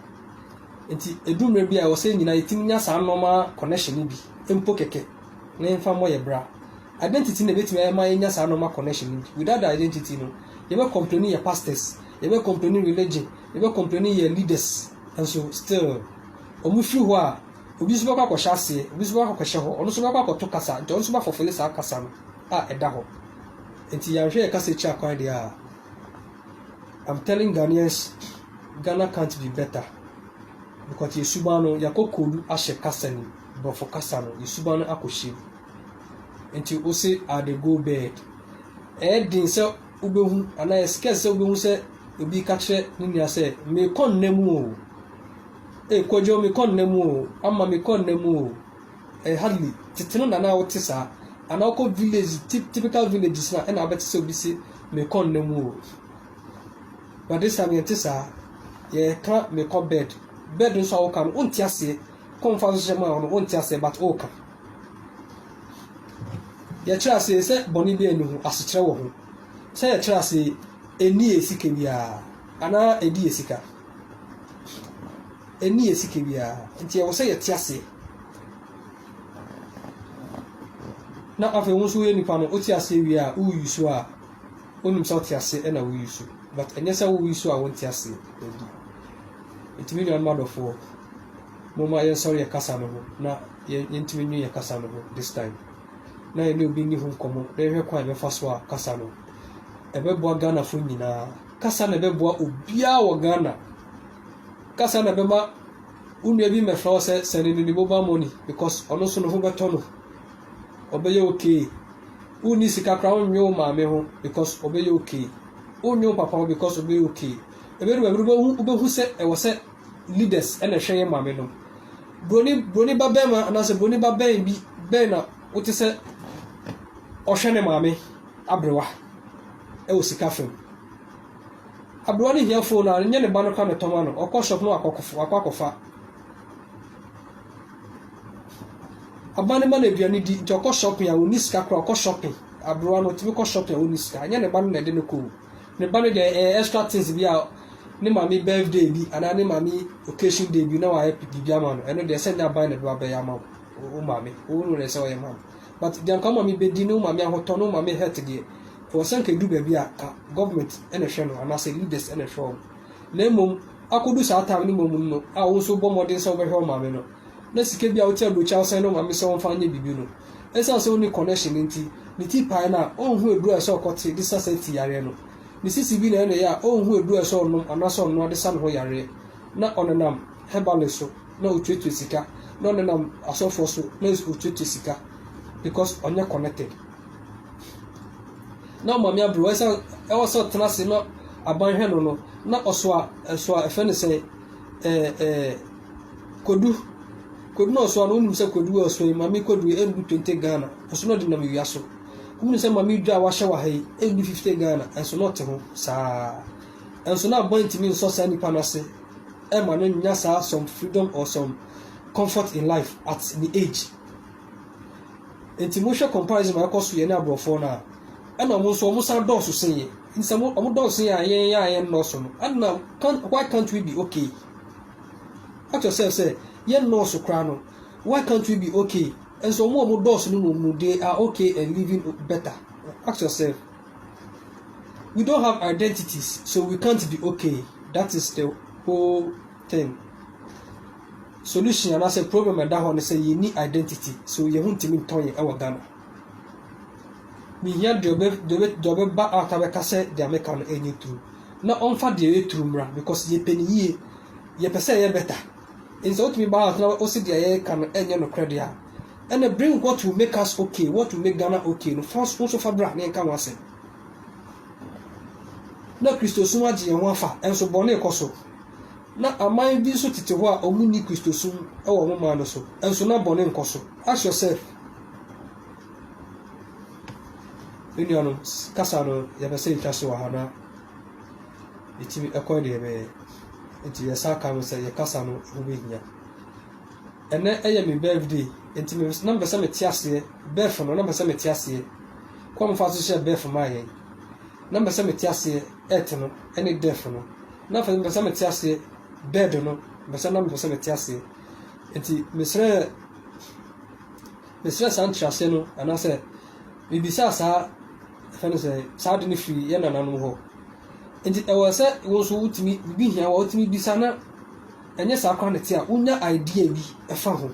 Enti ɛdu mmerɛ bi a ɛwɔ sɛ nyinaa yɛtumi nya saa normal connection no bi, mpo kɛkɛ. ne mfa mmɔ yɛn bra. Identity na ebetumi ama yɛanya saa normal connection no nti. Without the identity no, yɛbɛ complaini yɛ pastors, yɛbɛ complaini religion, yɛbɛ complaini yɛ leaders nso still wɔn firi hɔ a, obi nso bɛkɔ akɔhyɛ aseɛ, obi nso bɛkɔ akɔhyɛ hɔ, ɔno nso bɛkɔ akɔto kasa nti ɔno nso bɛafɔfele saa kasa no a ɛda hɔ. Nti yɛanhwɛ yɛ kasa akyi akwan deɛ a, I'm telling Ghanaians, Ghana can't be better because yɛ suban no yɛakɔ koodu ahyɛ kasa ni. Borɔfo kasa no, ne suban no akɔ hyem. Nti wo se are the go bird. Ɛyɛ den sɛ wobɛhu anaa ɛyɛ scarce sɛ wobɛhu sɛ obi ka kyerɛ ne nua sɛ mekɔ nna mu o. Ee kwadwo mekɔ nna mu o. Ama mekɔ nna mu o. Ɛyɛ hardly tete no na na wote saa. Anaa wokɔ village typical villages na ɛna abɛte sɛ obi se mekɔ nna mu o. But this time yɛnte saa. Yɛka mekɔ bed. Bed nso a woka no wonte aseɛ. Kɔ nfa so hyɛ mu a ɔno wonte aseɛ but woka. Yɛkyerɛ ase yi sɛ bɔne biara nni ho, asekyerɛ wɔ ho. Sɛ yɛkyerɛ ase yi, ɛnni yɛn sika biara anaa ɛdi yɛn sika. Ɛnni yɛn sika biara nti ɛwɔ sɛ yɛte aseɛ. Na afei wo nso woyɛ nipa no wote aseɛ wie a woyi so a wonim sɛ wote aseɛ ɛna woyi so but ɛnyɛ sɛ woyi so a wonte aseɛ. Ɛdi. Nti me nuanom adɔfoɔ, momma yɛnsɔre yɛn kasa no ho na yɛntumi nnwene yɛn kasa no ho this time, na yɛne obi nni ho nkɔmmɔ na yɛhwɛ kwan a yɛbɛfa so a kasa no. Ɛbɛboa Ghanafoɔ nyinaa. Kasa na ɛbɛboa obiara wɔ Ghana. Kasa na ɛbɛma wo nua bi mmɛfrɛ wo sɛ send no ne mobile money because ɔno nso ne ho bɛtɔ no. Ɔbɛyɛ okay. Wonni sika koraa wonnwe wo maame ho because ɔbɛyɛ okay. Wonnwe wo papa ho because ɔbɛyɛ okay. Ebedu baabi no wobɛhu wobɛhu sɛ ɛwɔ sɛ leaders na ɛhwɛ yɛn maame no. Buroni buroni ba bɛrima anaasɛ buroni ba bɛn bi bɛn na wote sɛ ɔhwɛ ne maame aberewa ɛwɔ sika fam. Aberewa no hia phone a nyɛ ne ba no ka ne tɔma no ɔkɔ shop no akɔ akɔ akɔfa. Aba ne ma no aduane di nti ɔkɔ shopping a ɔnni sika koraa ɔkɔ shopping. Aberewa no ɔtumi kɔ shopping a ɔnni sika nyɛ ne ba no na ɛde no kɔ o. Ne ba no deɛ ɛyɛ extra things bi a ne maame birthday bi anaa ne maame occasion day bi na wayɛ biribi ama no ɛno deɛ sɛ nyɛ aban na ɛbɛba bɛyɛ ama wo wo maame wo no na ɛsɛ ɔyɛ ma no but deɛ nka wo maame bɛdi ne wo maame ahotɔ ne wo maame health deɛ ɛwɔ sɛ nka ɛdu baabi a ka government ɛna ɛhwɛ no anaasɛ leaders ɛna ɛhwɛ wɔn na mmom akɔdu saa time no mmom no a wo nso bɔ mmɔden sɛ wobɛhwɛ wo maame no na sika bi a wotua aburokyia ɔsɛn no maame sɛ ɔmfa nyɛ biribi no, esiane sɛ onni kɔnɛhyen nti, ne ti pae no a, onhu aduru a ɛsɛ sɛ ɔkɔte de sa saa ti yareɛ no. Ne sisi bi na ɛyɛ no ya a, onhu aduru a ɛsɛ sɛ ɔnom anaasɛ ɔnoa de sa ne ho yareɛ. Na ɔnenam herbalist so na otuatua sika, na ɔnenam asɔfoɔ so na otuatua sika because ɔnyɛ connected. Na ɔmaame abrewa esiane ɛwɔ sɛ ɔtena ase na aban hwɛ no no, na ɔsoa ɛsoa ɛfɛ ne sɛ ɛɛ ɛɛ Kodu, kodu na ɔsoa no wonim sɛ kodu a ɔsoa yi mame kodu yi ɛndu twenty Ghana nso na ɔde nam awia so wonim sɛ mame dwa a wahyɛ wɔ ha yi ɛndu fifty Ghana nso na ɔte ho saa nso na abɔn ntumi nsɔ saa nipa no ase ɛma no nya saa some freedom or some comfort in life at the age nti mohwɛ comparison a ɛkɔ so yɛ ne aborɔfoɔ no a ɛna wɔn nso wɔn san dɔɔso sen yɛ nti sɛ wɔn dɔɔso sen yɛ a yɛn yɛ a yɛn nnɔɔso no ɛna why can't we be okay Kyerɛ sɛ sɛ yɛ nnɔɔso koraa no why can't we be ok nso wɔn a wɔn dɔɔso no mmom no they are ok and living better ask yourself we don't have identities so we can't be ok that is the whole thing solution anaasɛ problem a ɛda hɔ no sɛ yɛnni identity so yɛn ho ntumi ntɔn yɛn wɔ Ghana mehia deɛ ɔbɛ deɛ ɔbɛ deɛ ɔbɛba out abɛka sɛ deɛ meka no ɛnyɛ true. na ɔmfa deɛ ɔyɛ turu mmra because yɛpɛ ne yie, yɛpɛ sɛ ɛyɛ better. Nti sɛ wotumi ba house na wose deɛ yɛka no ɛnyɛ nokorɛ deɛ a, ɛnna bring what will make us okay, what will make Ghana okay no fa wo nso fa bra na yɛnka ho asɛm. Na Kristosom agye yɛn ho afa, nso bɔne kɔ so. Na aman bi nso tete hɔ a wɔnni Kristosom wɔ wɔn man no so, nso na bɔne nkɔ so. Ask yourself. Me nuanom, kasa no, yɛpɛ sɛ yɛtwa so wɔ ha na yɛtumi kɔ deɛ ɛbɛyɛ. Nti yɛsan ka no sɛ yɛ kasa no ho bɛhia. Ɛnɛ ɛyɛ me birthday, nti me na mpɛ sɛ mete aseɛ. Birth no, na mpɛ sɛ mete aseɛ. Kɔ mfa so hyɛ birth maa yɛn. Na mpɛ sɛ mete aseɛ ɛte no ɛne death no. Na afei mpɛ sɛ mete aseɛ bird no, mpɛ sɛ na mpɛ sɛ mete aseɛ. Nti mesrɛ Mesrɛ saa nkyerɛaseɛ no, anaasɛ mebisaa saa, yɛfrɛ no sɛ, saa ade no firii yɛn nananom hɔ. Enti ɛwɔ sɛ wo nso wotumi, biribi hia wo a wotumi bisa na ɛnyɛ saa koraa na ɛte a, wonya idea bi fa ho.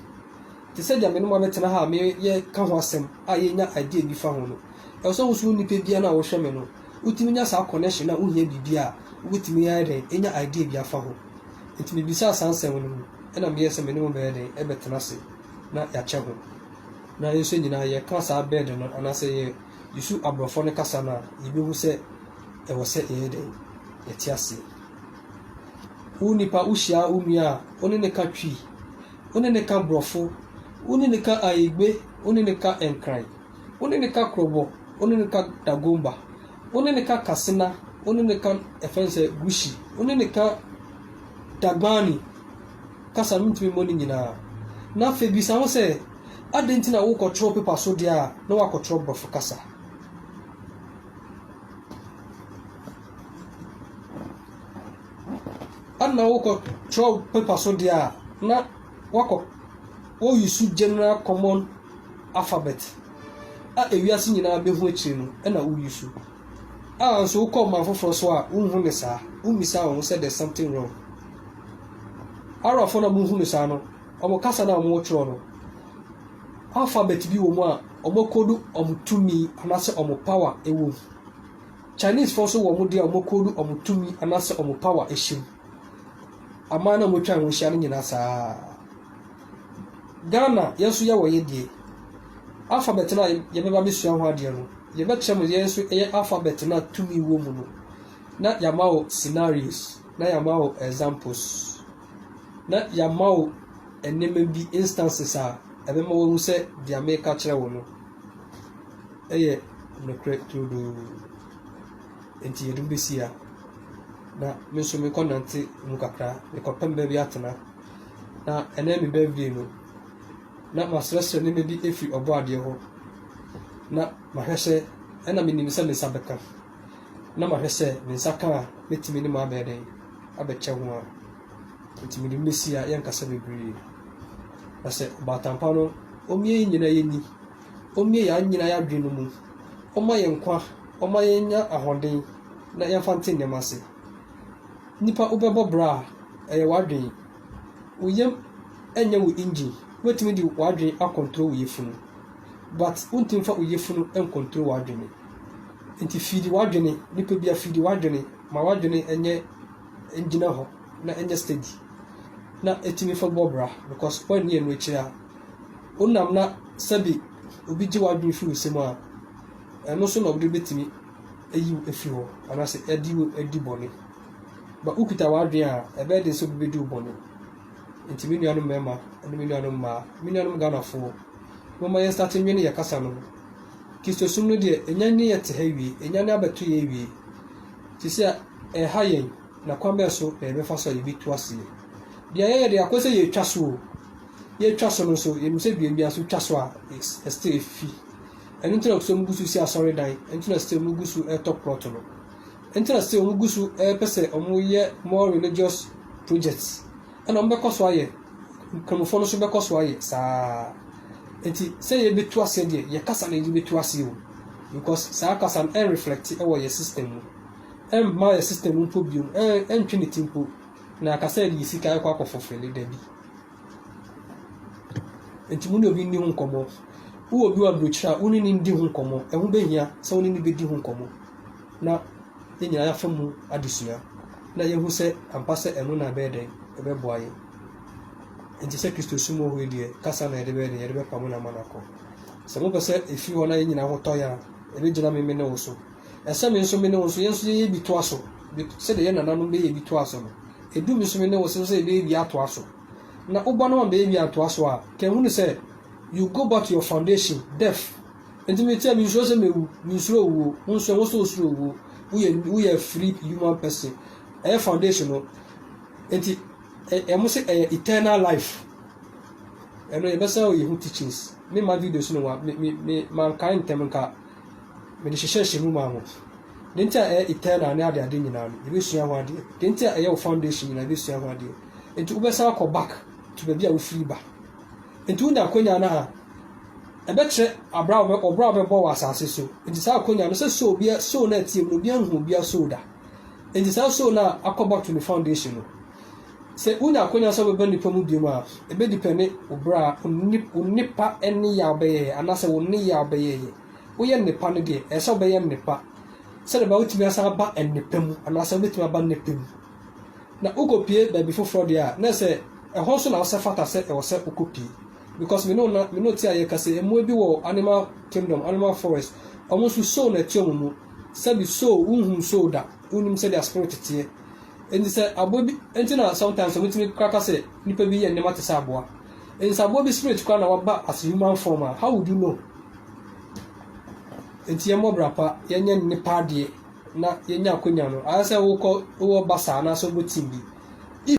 Te sɛ deɛ me ne mo abɛtena ha a meyɛka ho asɛm a yɛnya idea bi fa ho no, ɛwɔ sɛ wo nso wo nipa biara no a wohwɛ me no, wotumi nya saa connection a wohia biribi a wobɛtumi ayɛ dɛn anya idea bi afa ho. Enti mebisaa saa nsɛm no mu, ɛna meyɛɛ sɛ me ne mo bɛyɛ dɛn ɛbɛtena ase. na yɛakyɛ ho. Na yɛn nso nyinaa yɛka saa bɛɛde no anaa sɛ yɛ yɛsu aborɔfɔ no kasa no a, yɛbɛhu sɛ ɛwɔ sɛ yɛyɛ dɛn? Yɛte aseɛ. Wo nipa, wo hyia wo nua a, wo ne ne ka Twi, wo ne ne ka borɔfo, wo ne ne ka Aigbe, wo ne ne ka Nkran, wo ne ne ka Krɔbɔ, wo ne ne ka Dagomba, wo ne ne ka Kasena, wo ne ne ka ɛfɛn sɛ Gushi, wo ne ne ka Dagbani. kasa no ntumi mmɔ ne nyinaa. Na afei bisa ho sɛ, Adɛn nti na worekɔtwerɛ pepa so deɛ a na woakɔtwerɛ Borɔfo kasa? Adɛn na worekɔtwerɛ pepa so deɛ a na woakɔ woyusu general common alphabet a ewiase nyinaa bɛhu akyire no na woyusu? A Nso wokɔ ɔman foforɔ so a, wonhu no saa. Wommisa wɔn ho sɛ there's something wrong. Arabfoɔ no a mohu no saa no, wɔn kasa no a wɔtwerɛ no, alphabet bi wɔ mu a wɔakodu wɔn tumi anaasɛ wɔn power wɔ mu. Chinesefoɔ nso wɔ wɔn deɛ a wɔakodu wɔn tumi anaasɛ wɔn power hyɛ mu. Aman no a wɔatwa ho ahyia no nyinaa saa ara. Ghana yɛn so yɛwɔ yɛn deɛ. Alphabet no a yɛbɛba abɛsua ho adeɛ no, yɛbɛkyerɛ mo yɛn nso ɛyɛ alphabet no a tumi wɔ mu no na yɛama wo scenarios na yɛama wo examples na yɛama wo nneɛma bi instances a ɛbɛma wahu sɛ deɛ meka kyerɛ wo no ɛyɛ nokorɛ turodoo nti yɛde bɛsi a na me nso mekɔ nante mu kakra mekɔpɛ baabi atena na ɛnnɛ yɛ me birthday no, na masrɛsrɛ nneɛma bi afi Ɔbɔadeɛ hɔ, na mahwɛ sɛ ɛnna menim sɛ me nsa bɛka, na mahwɛ sɛ me nsa ka a, mɛtumi ne mo abɛyɛ dɛn, abɛkyɛ ho a. Nti mede mo bɛsi ha, yɛnkasa bebree. Na sɛ ɔbaatan pa no, ɔmmue yɛn nyinaa yɛn ani, ɔmmue yɛn nyinaa yɛn adwene no mu, ɔmma yɛn nkwa, ɔmma yɛnya ahoɔden, na yɛmfa nte nneɛma ase. Nipa wobɛbɔ bra a, ɛyɛ w'adwene. Wo yam nyɛ wo engine. Wobɛtumi de w'adwene akɔntro wo yafunu but wontumi mfa wo yafunu nkɔntro w'adwene. Nti fiidi w'adwene, nipa bia fiidi w'adwene ma w'adwene nyɛ ngyina hɔ na ɛnyɛ steady na ɛtumi fa bɔ bra because woanni ɛno akyiri a wonam na sɛbi obi gye w'adwene firi wo sɛm a ɛno so na wode bɛtumi ayi wo afiri hɔ anaasɛ ɛde wo adi bɔne. Ba wokita w'adwene a, ɛbɛyɛ den sɛ obi bɛdi wo bɔne. Nti me nuanom mmarima ne me nuanom mmaa, me nuanom Ghanafoɔ, momma yɛn starte nwene yɛn kasa no ho. Kristosom no deɛ, ɛnya ne yɛte ha wie, ɛnya ne abɛto yɛn wie. Sisi a ɛha yɛn, na kwan bɛn so na yɛbɛfa so a yɛbɛtu aseɛ. Deɛ yɛyɛ deɛ akɔ sɛ yɛtwa so o, yɛtwa so no nso yɛnim sɛ duam biara so wotwa so a, ɛsɛ sɛ ɛfi. Ɛno nti na ɔpɛ sɛ wɔgu so si asɔredan. Ɛno nti na still wɔgu so retɔ plot no. Ɛno nti na still wɔgu so repɛ sɛ wɔyɛ more religious projects. Ɛna wɔbɛkɔ so ayɛ. Nkramofoɔ no nso bɛkɔ so ayɛ saa. Nti sɛ yɛbɛtu aseɛ deɛ, yɛ kasa na yɛde bɛtu aseɛ o. Because saa kasa no ɛnreflɛkte wɔ yɛ system mu. Ɛmma yɛ system mpo biom, ɛntwe ne ti mpo. Na yɛaka sɛ yɛde yɛ sika akɔ akɔfulfille, dabi. Enti mo ne obi nni ho nkɔmmɔ. Wowɔ obi wɔ aburokyiri a, wo ne no ndi ho nkɔmmɔ. Ɛho behia sɛ wo ne no bedi ho nkɔmmɔ na yɛn nyinaa yɛafa mu adesua na yɛahu sɛ ampa sɛ ɛno na ɛbɛyɛ dɛn, ɛbɛboa yɛn. Enti sɛ Kristo som wɔ hɔ yi deɛ, kasa na yɛde bɛyɛ dɛn, yɛde bɛpamo no ama no akɔ. Sɛ mopɛ sɛ efi hɔ na yɛn nyinaa ho tɔ yɛn a, ɛbɛgyina me me ne wo so. Ɛsɛ me nso me ne wo nso, yɛn nso yɛyɛ bi toa so. Sɛdeɛ yɛn nananom bɛyɛɛ bi toaa so no, Edu bosome ne wo sɛ sɛ yɛbɛyɛ bi atoa so na wo ba no ma bɛyɛ bi antoa so a ka ehunu sɛ you go back to your foundation, death. Enti me tia me nsuro sɛ mɛwu, me nsuro owuo, wo nso ɛho sɛ osuro owuo, wo yɛ, wo yɛ free human person. Ɛyɛ foundation no. Enti ɛmo sɛ ɛyɛ eternal life. Ɛno yɛbɛsan o yɛhu teachings. Me ma videos no wa, me, me, me, mankae ntɛm nka. Mede hyehyɛɛ hyɛ mu maa mo. Deɛ nti a ɛyɛ eternal ne adeade nyinaa no, yɛbɛsua ho adeɛ. Deɛ nti a ɛyɛ wo foundation nyinaa, yɛbɛsua ho adeɛ. Nti wobɛsan akɔ back to baabi a wofiri ba. Nti wonya akwanya no a, ɛbɛkyerɛ abra a wɔbɛbɔ wɔ asase so. Nti saa akwanya no, sɛ soul, soul no a ɛteɛ mu no, obiara nhuu obiara soul da. Enti saa soo no a akɔ bɔto ne foundation no, sɛ wonya akwanya sɛ wobɛba nnipa mu biom a, ɛbɛdipɛne wo berɛ a wo nip, wo nnipa nneyɛ a wobɛyɛyɛ anaasɛ wo nneyɛ a wobɛyɛyɛ. Woyɛ nnepa no deɛ, ɛsɛ sɛ wobɛyɛ nnepa sɛdeɛ ɛbɛyɛ wotumi asan aba nnepa mu anaasɛ wobɛtumi aba nnepa mu. Na wokɔpie baabi foforɔ deɛ a, na ɛsɛ sɛ ɛhɔ nso na wosɛ fata sɛ ɛwɔ sɛ wokɔpie. because me ne wo na me ne wo te a yɛ kasa yi mmoa bi wɔ animal kingdom animal forest ɔmo nso soul na ɛte ɔmo mu sɛbi soul wo nhunu soul da wo nim sɛdeɛ spirit teɛ nti sɛ aboa bi nti na sometimes ɔmo tumi kraka sɛ nipa bi yɛ nneɛma te sɛ aboa nti sɛ aboa bi spirit kora na waba as human form a how would you know nti yɛ mmɔ bra pa yɛ nyɛ nipa adeɛ na yɛ nya akonya no ayɛ sɛ wokɔ wowɔ basa anaasɛ wobɔ team bi